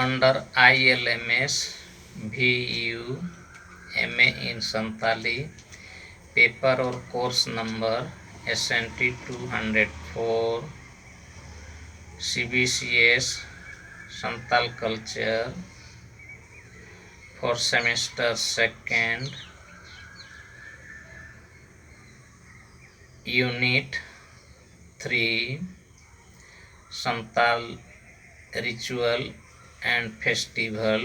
Under I L M S V U M A in Santali paper or course number S N T two hundred four C B C S Santal culture four semester second unit three Santal ritual and festival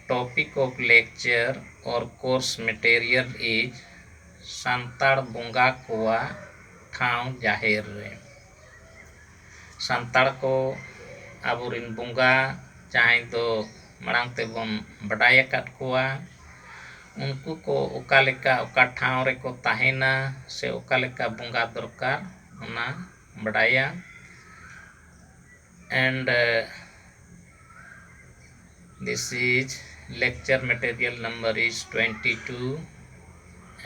topic of lecture or course material is ᱥᱟᱱᱛᱟᱲ ᱵᱚᱸᱜᱟ ᱠᱚᱣᱟᱜ ᱴᱷᱟᱶ ᱡᱟᱦᱮᱨ ᱨᱮ ᱥᱟᱱᱛᱟᱲ ᱠᱚ ᱟᱵᱚ ᱨᱮᱱ ᱵᱚᱸᱜᱟ ᱡᱟᱦᱟᱸᱭ ᱫᱚ ᱢᱟᱲᱟᱝ ᱛᱮᱵᱚᱱ ᱵᱟᱰᱟᱭ ᱟᱠᱟᱫ ᱠᱚᱣᱟ ᱩᱱᱠᱩ ᱠᱚ ᱚᱠᱟ ᱞᱮᱠᱟ ᱚᱠᱟ ᱴᱷᱟᱶ ᱨᱮᱠᱚ ᱛᱟᱦᱮᱱᱟ ᱥᱮ ᱚᱠᱟ ᱞᱮᱠᱟ ᱵᱚᱸᱜᱟ ᱫᱚᱨᱠᱟᱨ ᱚᱱᱟ ᱵᱟᱰᱟᱭᱟ and this is lecture material number is twenty two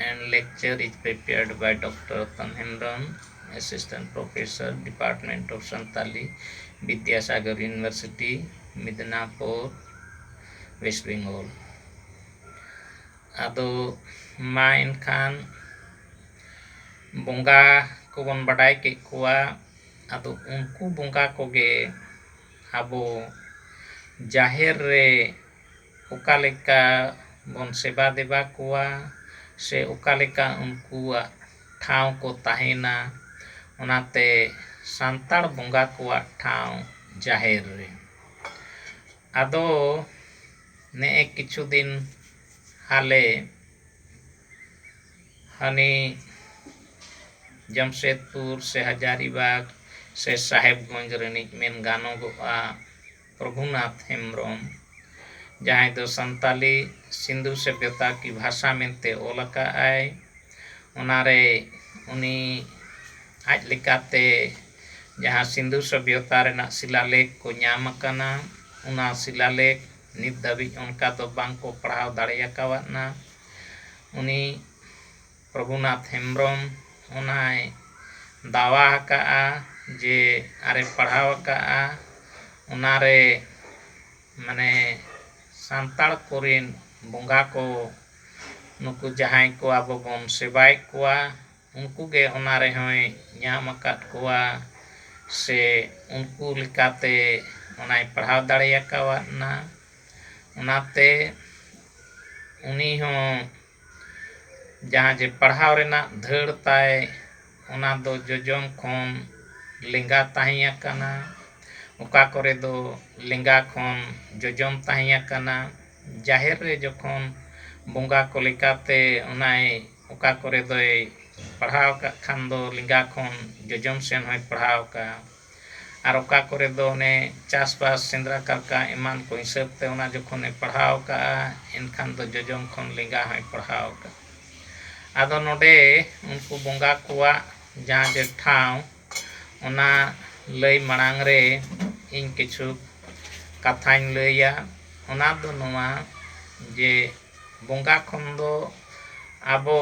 and lecture is prepared by doctor Ratan Hembrom assistant professor department of Santali Vidyasagar university Midnapore west Bengal ᱟᱫᱚ ᱢᱟ ᱮᱱᱠᱷᱟᱱ ᱵᱚᱸᱜᱟ ᱠᱚᱵᱚᱱ ᱵᱟᱰᱟᱭ ᱠᱮᱫ ᱠᱚᱣᱟ ᱟᱫᱚ ᱩᱱᱠᱩ ᱵᱚᱸᱜᱟ ᱠᱚᱜᱮ ᱟᱵᱚ ᱡᱟᱦᱮᱨ ᱨᱮ ᱚᱠᱟ ᱞᱮᱠᱟ ᱵᱚᱱ ᱥᱮᱵᱟ ᱫᱮᱵᱟ ᱠᱚᱣᱟ ᱥᱮ ᱚᱠᱟ ᱞᱮᱠᱟ ᱩᱱᱠᱩᱣᱟᱜ ᱴᱷᱟᱶ ᱠᱚ ᱛᱟᱦᱮᱱᱟ ᱚᱱᱟᱛᱮ ᱥᱟᱱᱛᱟᱲ ᱵᱚᱸᱜᱟ ᱠᱚᱣᱟᱜ ᱴᱷᱟᱶ ᱡᱟᱦᱮᱨ ᱨᱮ ᱟᱫᱚ ᱱᱮᱜᱼᱮ ᱠᱤᱪᱷᱩ ᱫᱤᱱ ᱦᱟᱞᱮ ᱦᱟᱹᱱᱤ ᱡᱟᱢᱥᱮᱫᱽᱯᱩᱨ ᱥᱮ ᱦᱟᱡᱟᱨᱤᱵᱟᱜᱽ ᱥᱮ ᱥᱟᱦᱮᱵᱽᱜᱚᱸᱡᱽ ᱨᱤᱱᱤᱡ ᱢᱮᱱ ᱜᱟᱱᱚᱜᱚᱜᱼᱟ ᱯᱨᱚᱵᱷᱩᱱᱟᱛᱷ ᱦᱮᱢᱵᱽᱨᱚᱢ ᱡᱟᱦᱟᱸᱭ ᱫᱚ ᱥᱟᱱᱛᱟᱞᱤ ᱥᱤᱱᱫᱷᱩ ᱥᱚᱵᱷᱭᱚᱛᱟ ᱠᱤ ᱵᱷᱟᱥᱟ ᱢᱮᱱᱛᱮ ᱚᱞ ᱟᱠᱟᱫ ᱟᱭ ᱚᱱᱟ ᱨᱮ ᱩᱱᱤ ᱟᱡ ᱞᱮᱠᱟᱛᱮ ᱡᱟᱦᱟᱸ ᱥᱤᱱᱫᱷᱩ ᱥᱚᱵᱷᱭᱚᱛᱟ ᱨᱮᱱᱟᱜ ᱥᱤᱞᱟ ᱞᱮᱠᱷ ᱠᱚ ᱧᱟᱢ ᱟᱠᱟᱱᱟ ᱚᱱᱟ ᱥᱤᱞᱟ ᱞᱮᱠᱷ ᱱᱤᱛ ᱫᱷᱟᱹᱵᱤᱡ ᱚᱱᱠᱟ ᱫᱚ ᱵᱟᱝ ᱠᱚ ᱯᱟᱲᱦᱟᱣ ᱫᱟᱲᱮ ᱟᱠᱟᱣᱟᱫᱼᱟ ᱩᱱᱤ ᱯᱨᱚᱵᱷᱩᱱᱟᱛᱷ ᱦᱮᱢᱵᱨᱚᱢ ᱚᱱᱟᱭ ᱫᱟᱣᱟ ᱟᱠᱟᱫᱼᱟ ᱡᱮ ᱟᱨᱮ ᱯᱟᱲᱦᱟᱣ ᱟᱠᱟᱫᱼᱟ ᱚᱱᱟ ᱨᱮ ᱢᱟᱱᱮ ᱥᱟᱱᱛᱟᱲ ᱠᱚᱨᱮᱱ ᱵᱚᱸᱜᱟ ᱠᱚ ᱱᱩᱠᱩ ᱡᱟᱦᱟᱸᱭ ᱠᱚ ᱟᱵᱚ ᱵᱚᱱ ᱥᱮᱵᱟᱭᱮᱫ ᱠᱚᱣᱟ ᱩᱱᱠᱩ ᱜᱮ ᱚᱱᱟ ᱨᱮᱦᱚᱸᱭ ᱧᱟᱢ ᱟᱠᱟᱫ ᱠᱚᱣᱟ ᱥᱮ ᱩᱱᱠᱩ ᱞᱮᱠᱟᱛᱮ ᱚᱱᱟᱭ ᱯᱟᱲᱦᱟᱣ ᱫᱟᱲᱮ ᱟᱠᱟᱣᱟᱫᱱᱟ ᱚᱱᱟᱛᱮ ᱩᱱᱤ ᱦᱚᱸ ᱡᱟᱦᱟᱸ ᱡᱮ ᱯᱟᱲᱦᱟᱣ ᱨᱮᱱᱟᱜ ᱫᱷᱟᱹᱲ ᱛᱟᱭ ᱚᱱᱟ ᱫᱚ ᱡᱚᱡᱚᱢ ᱠᱷᱚᱱ ᱞᱮᱸᱜᱟ ᱛᱟᱦᱮᱸ ᱟᱠᱟᱱᱟ ᱚᱠᱟ ᱠᱚᱨᱮ ᱫᱚ ᱞᱮᱸᱜᱟ ᱠᱷᱚᱱ ᱡᱚᱡᱚᱢ ᱛᱟᱦᱮᱸ ᱟᱠᱟᱱᱟ ᱡᱟᱦᱮᱨ ᱨᱮ ᱡᱚᱠᱷᱚᱱ ᱵᱚᱸᱜᱟ ᱠᱚ ᱞᱮᱠᱟᱛᱮ ᱚᱱᱟᱭ ᱚᱠᱟ ᱠᱚᱨᱮ ᱫᱚᱭ ᱯᱟᱲᱦᱟᱣ ᱟᱠᱟᱫ ᱠᱷᱟᱱ ᱫᱚ ᱞᱮᱸᱜᱟ ᱠᱷᱚᱱ ᱡᱚᱡᱚᱢ ᱥᱮᱱ ᱦᱚᱸᱭ ᱯᱟᱲᱦᱟᱣ ᱟᱠᱟᱫᱼᱟ ᱟᱨ ᱚᱠᱟ ᱠᱚᱨᱮ ᱫᱚ ᱚᱱᱮ ᱪᱟᱥᱵᱟᱥ ᱥᱮᱸᱫᱽᱨᱟ ᱠᱟᱨᱠᱟ ᱮᱢᱟᱱ ᱠᱚ ᱦᱤᱥᱟᱹᱵᱽ ᱛᱮ ᱚᱱᱟ ᱡᱚᱠᱷᱚᱱᱮ ᱯᱟᱲᱦᱟᱣ ᱟᱠᱟᱫᱼᱟ ᱮᱱᱠᱷᱟᱱ ᱫᱚ ᱡᱚᱡᱚᱢ ᱠᱷᱚᱱ ᱞᱮᱸᱜᱟ ᱦᱚᱸᱭ ᱯᱟᱲᱦᱟᱣ ᱟᱠᱟᱫᱼᱟ ᱟᱫᱚ ᱱᱚᱰᱮ ᱩᱱᱠᱩ ᱵᱚᱸᱜᱟ ᱠᱚᱣᱟᱜ ᱡᱟᱦᱟᱸ ᱡᱮ ᱴᱷᱟᱶ ᱚᱱᱟ ᱞᱟᱹᱭ ᱢᱟᱲᱟᱝ ᱨᱮ ᱤᱧ ᱠᱤᱪᱷᱩ ᱠᱟᱛᱷᱟᱧ ᱞᱟᱹᱭᱟ ᱚᱱᱟ ᱫᱚ ᱱᱚᱣᱟ ᱡᱮ ᱵᱚᱸᱜᱟ ᱠᱷᱚᱱ ᱫᱚ ᱟᱵᱚ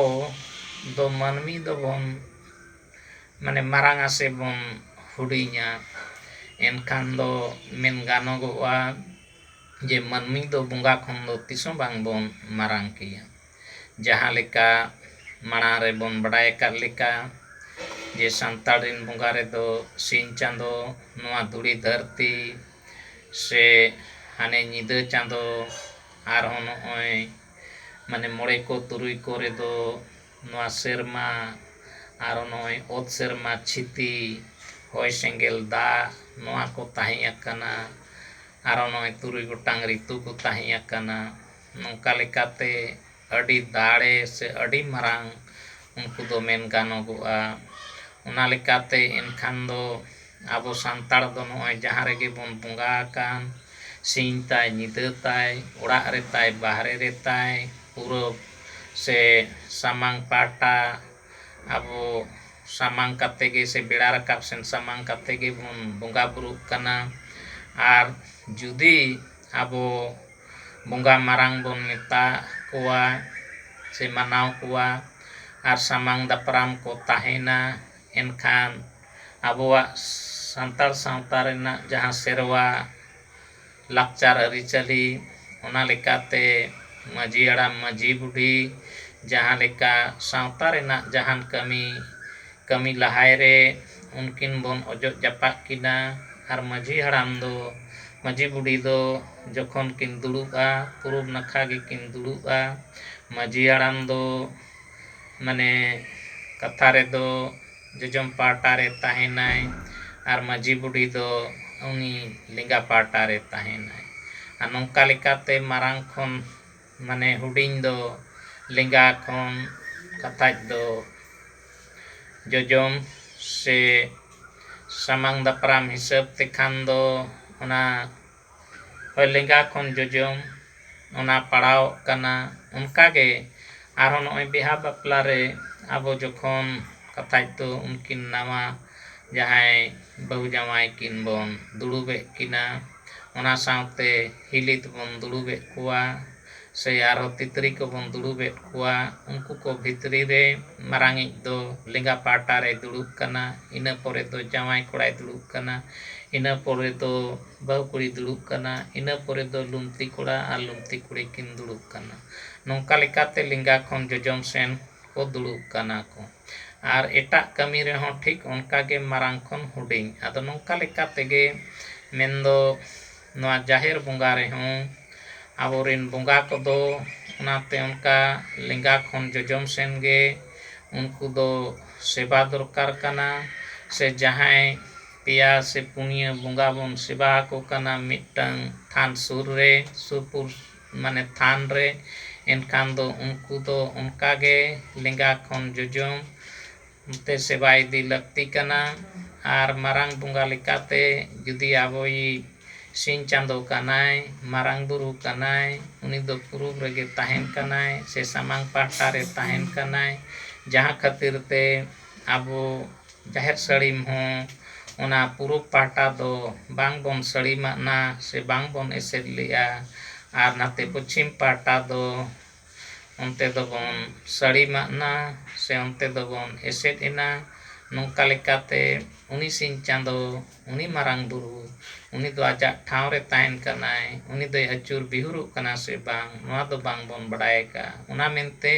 ᱫᱚ ᱢᱟᱹᱱᱢᱤ ᱫᱚᱵᱚᱱ ᱢᱟᱱᱮ ᱢᱟᱨᱟᱝᱟ ᱥᱮ ᱵᱚᱱ ᱦᱩᱰᱤᱧᱟ ᱮᱱᱠᱷᱟᱱ ᱫᱚ ᱢᱮᱱ ᱜᱟᱱᱚᱜᱚᱜᱼᱟ ᱡᱮ ᱢᱟᱹᱱᱢᱤ ᱫᱚ ᱵᱚᱸᱜᱟ ᱠᱷᱚᱱ ᱫᱚ ᱛᱤᱥ ᱦᱚᱸ ᱵᱟᱝ ᱵᱚᱱ ᱢᱟᱨᱟᱝ ᱜᱮᱭᱟ ᱡᱟᱦᱟᱸ ᱞᱮᱠᱟ ᱢᱟᱲᱟᱝ ᱨᱮᱵᱚᱱ ᱵᱟᱰᱟᱭ ᱟᱠᱟᱫ ᱞᱮᱠᱟ ᱡᱮ ᱥᱟᱱᱛᱟᱲ ᱨᱮᱱ ᱵᱚᱸᱜᱟ ᱨᱮᱫᱚ ᱥᱤᱧ ᱪᱟᱸᱫᱚ ᱱᱚᱣᱟ ᱫᱷᱩᱲᱤ ᱫᱷᱟᱹᱨᱛᱤ ᱥᱮ ᱦᱟᱱᱮ ᱧᱤᱫᱟᱹ ᱪᱟᱸᱫᱚ ᱟᱨᱦᱚᱸ ᱱᱚᱜᱼᱚᱭ ᱢᱟᱱᱮ ᱢᱚᱬᱮ ᱠᱚ ᱛᱩᱨᱩᱭ ᱠᱚ ᱨᱮᱫᱚ ᱱᱚᱣᱟ ᱥᱮᱨᱢᱟ ᱟᱨᱦᱚᱸ ᱱᱚᱜᱼᱚᱭ ᱚᱛ ᱥᱮᱨᱢᱟ ᱪᱷᱤᱛᱤ ᱦᱚᱭ ᱥᱮᱸᱜᱮᱞ ᱫᱟᱜ ᱱᱚᱣᱟ ᱠᱚ ᱛᱟᱦᱮᱸ ᱟᱠᱟᱱᱟ ᱟᱨᱦᱚᱸ ᱱᱚᱜᱼᱚᱭ ᱛᱩᱨᱩᱭ ᱜᱚᱴᱟᱝ ᱨᱤᱛᱩ ᱠᱚ ᱛᱟᱦᱮᱸ ᱟᱠᱟᱱᱟ ᱱᱚᱝᱠᱟ ᱞᱮᱠᱟᱛᱮ ᱟᱹᱰᱤ ᱫᱟᱲᱮ ᱥᱮ ᱟᱹᱰᱤ ᱢᱟᱨᱟᱝ ᱩᱱᱠᱩ ᱫᱚ ᱢᱮᱱ ᱜᱟᱱᱚᱜᱚᱜᱼᱟ ᱚᱱᱟ ᱞᱮᱠᱟᱛᱮ ᱮᱱᱠᱷᱟᱱ ᱫᱚ ᱟᱵᱚ ᱥᱟᱱᱛᱟᱲ ᱫᱚ ᱱᱚᱜᱼᱚᱭ ᱡᱟᱦᱟᱸ ᱨᱮᱜᱮ ᱵᱚᱱ ᱵᱚᱸᱜᱟ ᱟᱠᱟᱱ ᱥᱤᱧ ᱛᱟᱭ ᱧᱤᱫᱟᱹ ᱛᱟᱭ ᱚᱲᱟᱜ ᱨᱮ ᱛᱟᱭ ᱵᱟᱦᱨᱮ ᱨᱮ ᱛᱟᱭ ᱯᱩᱨᱚᱵᱽ ᱥᱮ ᱥᱟᱢᱟᱝ ᱯᱟᱦᱴᱟ ᱟᱵᱚ ᱥᱟᱢᱟᱝ ᱠᱟᱛᱮᱫ ᱜᱮ ᱥᱮ ᱵᱮᱲᱟ ᱨᱟᱠᱟᱵ ᱥᱮᱱ ᱥᱟᱢᱟᱝ ᱠᱟᱛᱮᱫ ᱜᱮᱵᱚᱱ ᱵᱚᱸᱜᱟ ᱵᱩᱨᱩᱜ ᱠᱟᱱᱟ ᱟᱨ ᱡᱩᱫᱤ ᱟᱵᱚ ᱵᱚᱸᱜᱟ ᱢᱟᱨᱟᱝ ᱵᱚᱱ ᱢᱮᱛᱟ ᱠᱚᱣᱟ ᱥᱮ ᱢᱟᱱᱟᱣ ᱠᱚᱣᱟ ᱟᱨ ᱥᱟᱢᱟᱝ ᱫᱟᱯᱨᱟᱢ ᱠᱚ ᱛᱟᱦᱮᱱᱟ ᱮᱱᱠᱷᱟᱱ ᱟᱵᱚᱣᱟᱜ ᱥᱟᱱᱛᱟᱲ ᱥᱟᱶᱛᱟ ᱨᱮᱱᱟᱜ ᱡᱟᱦᱟᱸ ᱥᱮᱨᱣᱟ ᱞᱟᱠᱪᱟᱨ ᱟᱹᱨᱤᱪᱟᱹᱞᱤ ᱚᱱᱟ ᱞᱮᱠᱟᱛᱮ ᱢᱟᱺᱡᱷᱤ ᱦᱟᱲᱟᱢ ᱢᱟᱺᱡᱷᱤ ᱵᱩᱰᱷᱤ ᱡᱟᱦᱟᱸ ᱞᱮᱠᱟ ᱥᱟᱶᱛᱟ ᱨᱮᱱᱟᱜ ᱡᱟᱦᱟᱱ ᱠᱟᱹᱢᱤ ᱠᱟᱹᱢᱤ ᱞᱟᱦᱟᱭ ᱨᱮ ᱩᱱᱠᱤᱱ ᱵᱚᱱ ᱚᱡᱚᱜ ᱡᱟᱯᱟᱜ ᱠᱤᱱᱟ ᱟᱨ ᱢᱟᱺᱡᱷᱤ ᱦᱟᱲᱟᱢ ᱫᱚ ᱢᱟᱺᱡᱷᱤ ᱵᱩᱰᱷᱤ ᱫᱚ ᱡᱚᱠᱷᱚᱱ ᱠᱤᱱ ᱫᱩᱲᱩᱵᱼᱟ ᱯᱩᱨᱩᱵᱽ ᱱᱟᱠᱷᱟ ᱜᱮᱠᱤᱱ ᱫᱩᱲᱩᱵᱼᱟ ᱢᱟᱺᱡᱷᱤ ᱦᱟᱲᱟᱢ ᱫᱚ ᱢᱟᱱᱮ ᱠᱟᱛᱷᱟ ᱨᱮᱫᱚ ᱡᱚᱡᱚᱢ ᱯᱟᱦᱴᱟ ᱨᱮ ᱛᱟᱦᱮᱸᱱᱟᱭ ᱟᱨ ᱢᱟᱹᱡᱷᱤ ᱵᱩᱰᱷᱤ ᱫᱚ ᱩᱱᱤ ᱞᱮᱸᱜᱟ ᱯᱟᱦᱴᱟ ᱨᱮ ᱛᱟᱦᱮᱸᱱᱟᱭ ᱟᱨ ᱱᱚᱝᱠᱟ ᱞᱮᱠᱟᱛᱮ ᱢᱟᱨᱟᱝ ᱠᱷᱚᱱ ᱢᱟᱱᱮ ᱦᱩᱰᱤᱧ ᱫᱚ ᱞᱮᱸᱜᱟ ᱠᱷᱚᱱ ᱠᱟᱛᱷᱟᱡ ᱫᱚ ᱡᱚᱡᱚᱢ ᱥᱮ ᱥᱟᱢᱟᱝ ᱫᱟᱯᱨᱟᱢ ᱦᱤᱥᱟᱹᱵ ᱛᱮᱠᱷᱟᱱ ᱫᱚ ᱚᱱᱟ ᱞᱮᱸᱜᱟ ᱠᱷᱚᱱ ᱡᱚᱡᱚᱢ ᱚᱱᱟ ᱯᱟᱲᱟᱣᱚᱜ ᱠᱟᱱᱟ ᱚᱱᱠᱟ ᱜᱮ ᱟᱨᱦᱚᱸ ᱱᱚᱜᱼᱚᱭ ᱵᱤᱦᱟ ᱵᱟᱯᱞᱟ ᱨᱮ ᱟᱵᱚ ᱡᱚᱠᱷᱚᱱ ᱠᱟᱛᱷᱟᱡ ᱫᱚ ᱩᱱᱠᱤᱱ ᱱᱟᱣᱟ ᱡᱟᱦᱟᱸᱭ ᱵᱟᱹᱦᱩ ᱡᱟᱶᱟᱭ ᱠᱤᱱ ᱵᱚᱱ ᱫᱩᱲᱩᱵᱮᱫ ᱠᱤᱱᱟ ᱚᱱᱟ ᱥᱟᱶᱛᱮ ᱦᱤᱞᱤ ᱛᱮᱵᱚᱱ ᱫᱩᱲᱩᱵᱮᱫ ᱠᱚᱣᱟ ᱥᱮ ᱟᱨᱦᱚᱸ ᱛᱤᱛᱨᱤ ᱠᱚᱵᱚᱱ ᱫᱩᱲᱩᱵ ᱮᱫ ᱠᱚᱣᱟ ᱩᱱᱠᱩ ᱠᱚ ᱵᱷᱤᱛᱨᱤ ᱨᱮ ᱢᱟᱨᱟᱝ ᱤᱡ ᱫᱚ ᱞᱮᱸᱜᱟ ᱯᱟᱦᱴᱟ ᱨᱮᱭ ᱫᱩᱲᱩᱵ ᱠᱟᱱᱟ ᱤᱱᱟᱹ ᱯᱚᱨᱮ ᱫᱚ ᱡᱟᱶᱟᱭ ᱠᱚᱲᱟᱭ ᱫᱩᱲᱩᱵ ᱠᱟᱱᱟ ᱤᱱᱟᱹ ᱯᱚᱨᱮ ᱫᱚ ᱵᱟᱹᱦᱩ ᱠᱩᱲᱤᱭ ᱫᱩᱲᱩᱵ ᱠᱟᱱᱟ ᱤᱱᱟᱹ ᱯᱚᱨᱮ ᱫᱚ ᱞᱩᱢᱛᱤ ᱠᱚᱲᱟ ᱟᱨ ᱞᱩᱢᱛᱤ ᱠᱩᱲᱤ ᱠᱤᱱ ᱫᱩᱲᱩᱵ ᱠᱟᱱᱟ ᱱᱚᱝᱠᱟ ᱞᱮᱠᱟᱛᱮ ᱞᱮᱸᱜᱟ ᱠᱷᱚᱱ ᱡᱚᱡᱚᱢ ᱥᱮᱱ ᱠᱚ ᱫᱩᱲᱩᱵ ᱠᱟᱱᱟ ᱠᱚ ᱟᱨ ᱮᱴᱟᱜ ᱠᱟᱹᱢᱤ ᱨᱮᱦᱚᱸ ᱴᱷᱤᱠ ᱚᱱᱠᱟ ᱜᱮ ᱢᱟᱨᱟᱝ ᱠᱷᱚᱱ ᱦᱩᱰᱤᱧ ᱟᱫᱚ ᱱᱚᱝᱠᱟ ᱞᱮᱠᱟ ᱛᱮᱜᱮ ᱢᱮᱱᱫᱚ ᱱᱚᱣᱟ ᱡᱟᱦᱮᱨ ᱵᱚᱸᱜᱟ ᱨᱮᱦᱚᱸ ᱟᱵᱚ ᱨᱤᱱ ᱵᱚᱸᱜᱟ ᱠᱚᱫᱚ ᱚᱱᱟᱛᱮ ᱚᱱᱠᱟ ᱞᱮᱸᱜᱟ ᱠᱷᱚᱱ ᱡᱚᱡᱚᱢ ᱥᱮᱱ ᱜᱮ ᱩᱱᱠᱩ ᱫᱚ ᱥᱮᱵᱟ ᱫᱚᱨᱠᱟᱨ ᱠᱟᱱᱟ ᱥᱮ ᱡᱟᱦᱟᱸᱭ ᱯᱮᱭᱟ ᱥᱮ ᱯᱩᱱᱭᱟᱹ ᱵᱚᱸᱜᱟ ᱵᱚᱱ ᱥᱮᱵᱟ ᱟᱠᱚ ᱠᱟᱱᱟ ᱢᱤᱫᱴᱟᱹᱝ ᱛᱷᱟᱱ ᱥᱩᱨ ᱨᱮ ᱥᱩᱯᱩᱨ ᱢᱟᱱᱮ ᱛᱷᱟᱱ ᱨᱮ ᱮᱱᱠᱷᱟᱱ ᱫᱚ ᱩᱱᱠᱩ ᱫᱚ ᱚᱱᱠᱟ ᱜᱮ ᱞᱮᱸᱜᱟ ᱠᱷᱚᱱ ᱡᱚᱡᱚᱢ ᱛᱮ ᱥᱮᱵᱟ ᱤᱫᱤ ᱞᱟᱹᱠᱛᱤ ᱠᱟᱱᱟ ᱟᱨ ᱢᱟᱨᱟᱝ ᱵᱚᱸᱜᱟ ᱞᱮᱠᱟᱛᱮ ᱡᱩᱫᱤ ᱟᱵᱚᱭᱤᱡ ᱥᱤᱧ ᱪᱟᱸᱫᱚ ᱠᱟᱱᱟᱭ, ᱢᱟᱨᱟᱝ ᱵᱩᱨᱩ ᱠᱟᱱᱟᱭ, ᱩᱱᱤ ᱫᱚ ᱯᱩᱨᱩᱵᱽ ᱨᱮᱜᱮ ᱛᱟᱦᱮᱸᱱ ᱠᱟᱱᱟᱭ ᱥᱮ ᱥᱟᱢᱟᱝ ᱯᱟᱦᱴᱟ ᱨᱮ ᱛᱟᱦᱮᱸᱱ ᱠᱟᱱᱟᱭ ᱡᱟᱦᱟᱸ ᱠᱷᱟᱹᱛᱤᱨ ᱛᱮ ᱟᱵᱚ ᱡᱟᱦᱮᱨ ᱥᱟᱹᱲᱤᱢ ᱦᱚᱸ ᱚᱱᱟ ᱯᱩᱨᱩᱵᱽ ᱯᱟᱦᱴᱟ ᱫᱚ ᱵᱟᱝ ᱵᱚᱱ ᱥᱟᱹᱲᱤᱢᱟᱜᱼᱱᱟ ᱥᱮ ᱵᱟᱝ ᱵᱚᱱ ᱮᱥᱮᱫ ᱞᱮᱜᱼᱟ ᱟᱨ ᱱᱟᱛᱮ ᱯᱚᱪᱷᱤᱢ ᱯᱟᱦᱴᱟ ᱫᱚ ᱚᱱᱛᱮ ᱫᱚᱵᱚᱱ ᱥᱟᱹᱲᱤ ᱢᱟᱜ ᱱᱟ ᱥᱮ ᱚᱱᱛᱮ ᱫᱚᱵᱚᱱ ᱮᱥᱮᱫ ᱮᱱᱟ ᱱᱚᱝᱠᱟ ᱞᱮᱠᱟᱛᱮ ᱩᱱᱤ ᱥᱤᱧ ᱪᱟᱸᱫᱚ ᱩᱱᱤ ᱢᱟᱨᱟᱝ ᱵᱩᱨᱩ ᱩᱱᱤ ᱫᱚ ᱟᱡᱟᱜ ᱴᱷᱟᱶ ᱨᱮ ᱛᱟᱦᱮᱱ ᱠᱟᱱᱟᱭ ᱩᱱᱤ ᱫᱚᱭ ᱟᱹᱪᱩᱨ ᱵᱤᱦᱩᱨᱚᱜ ᱠᱟᱱᱟ ᱥᱮ ᱵᱟᱝ ᱱᱚᱣᱟ ᱫᱚ ᱵᱟᱝ ᱵᱚᱱ ᱵᱟᱰᱟᱭ ᱟᱠᱟᱫᱼᱟ ᱚᱱᱟ ᱢᱮᱱᱛᱮ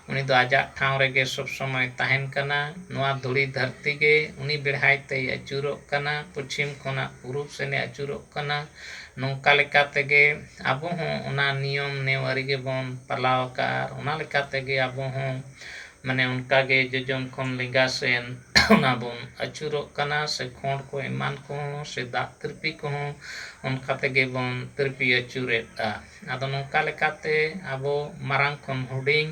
ᱩᱱᱤ ᱫᱚ ᱟᱡᱟᱜ ᱴᱷᱟᱶ ᱨᱮᱜᱮ ᱥᱚᱵᱽ ᱥᱚᱢᱚᱭ ᱛᱟᱦᱮᱱ ᱠᱟᱱᱟ ᱱᱚᱣᱟ ᱫᱷᱩᱲᱤ ᱫᱷᱟᱹᱨᱛᱤ ᱜᱮ ᱩᱱᱤ ᱵᱮᱲᱦᱟᱭ ᱛᱮᱭ ᱟᱹᱪᱩᱨᱚᱜ ᱠᱟᱱᱟ ᱯᱚᱪᱷᱤᱢ ᱠᱷᱚᱱᱟᱜ ᱯᱩᱨᱩᱵᱽ ᱥᱮᱱᱮ ᱟᱹᱪᱩᱨᱚᱜ ᱠᱟᱱᱟ ᱱᱚᱝᱠᱟ ᱞᱮᱠᱟ ᱛᱮᱜᱮ ᱟᱵᱚ ᱦᱚᱸ ᱚᱱᱟ ᱱᱤᱭᱚᱢ ᱱᱮᱣᱟᱹᱨᱤ ᱜᱮ ᱵᱚᱱ ᱯᱟᱞᱟᱣ ᱟᱠᱟᱫᱼᱟ ᱟᱨ ᱚᱱᱟ ᱞᱮᱠᱟᱛᱮ ᱜᱮ ᱟᱵᱚ ᱦᱚᱸ ᱢᱟᱱᱮ ᱚᱱᱠᱟ ᱜᱮ ᱡᱚᱡᱚᱢ ᱠᱷᱚᱱ ᱞᱮᱸᱜᱟ ᱥᱮᱱ ᱚᱱᱟ ᱵᱚᱱ ᱟᱹᱪᱩᱨᱚᱜ ᱠᱟᱱᱟ ᱥᱮ ᱠᱷᱚᱸᱰ ᱠᱚ ᱮᱢᱟᱱ ᱠᱚᱦᱚᱸ ᱥᱮ ᱫᱟᱜ ᱛᱤᱨᱯᱤ ᱠᱚᱦᱚᱸ ᱚᱱᱠᱟ ᱛᱮᱜᱮ ᱵᱚᱱ ᱛᱤᱨᱯᱤ ᱟᱹᱪᱩᱨᱮᱫᱼᱟ ᱟᱫᱚ ᱱᱚᱝᱠᱟ ᱞᱮᱠᱟᱛᱮ ᱟᱵᱚ ᱢᱟᱨᱟᱝ ᱠᱷᱚᱱ ᱦᱩᱰᱤᱧ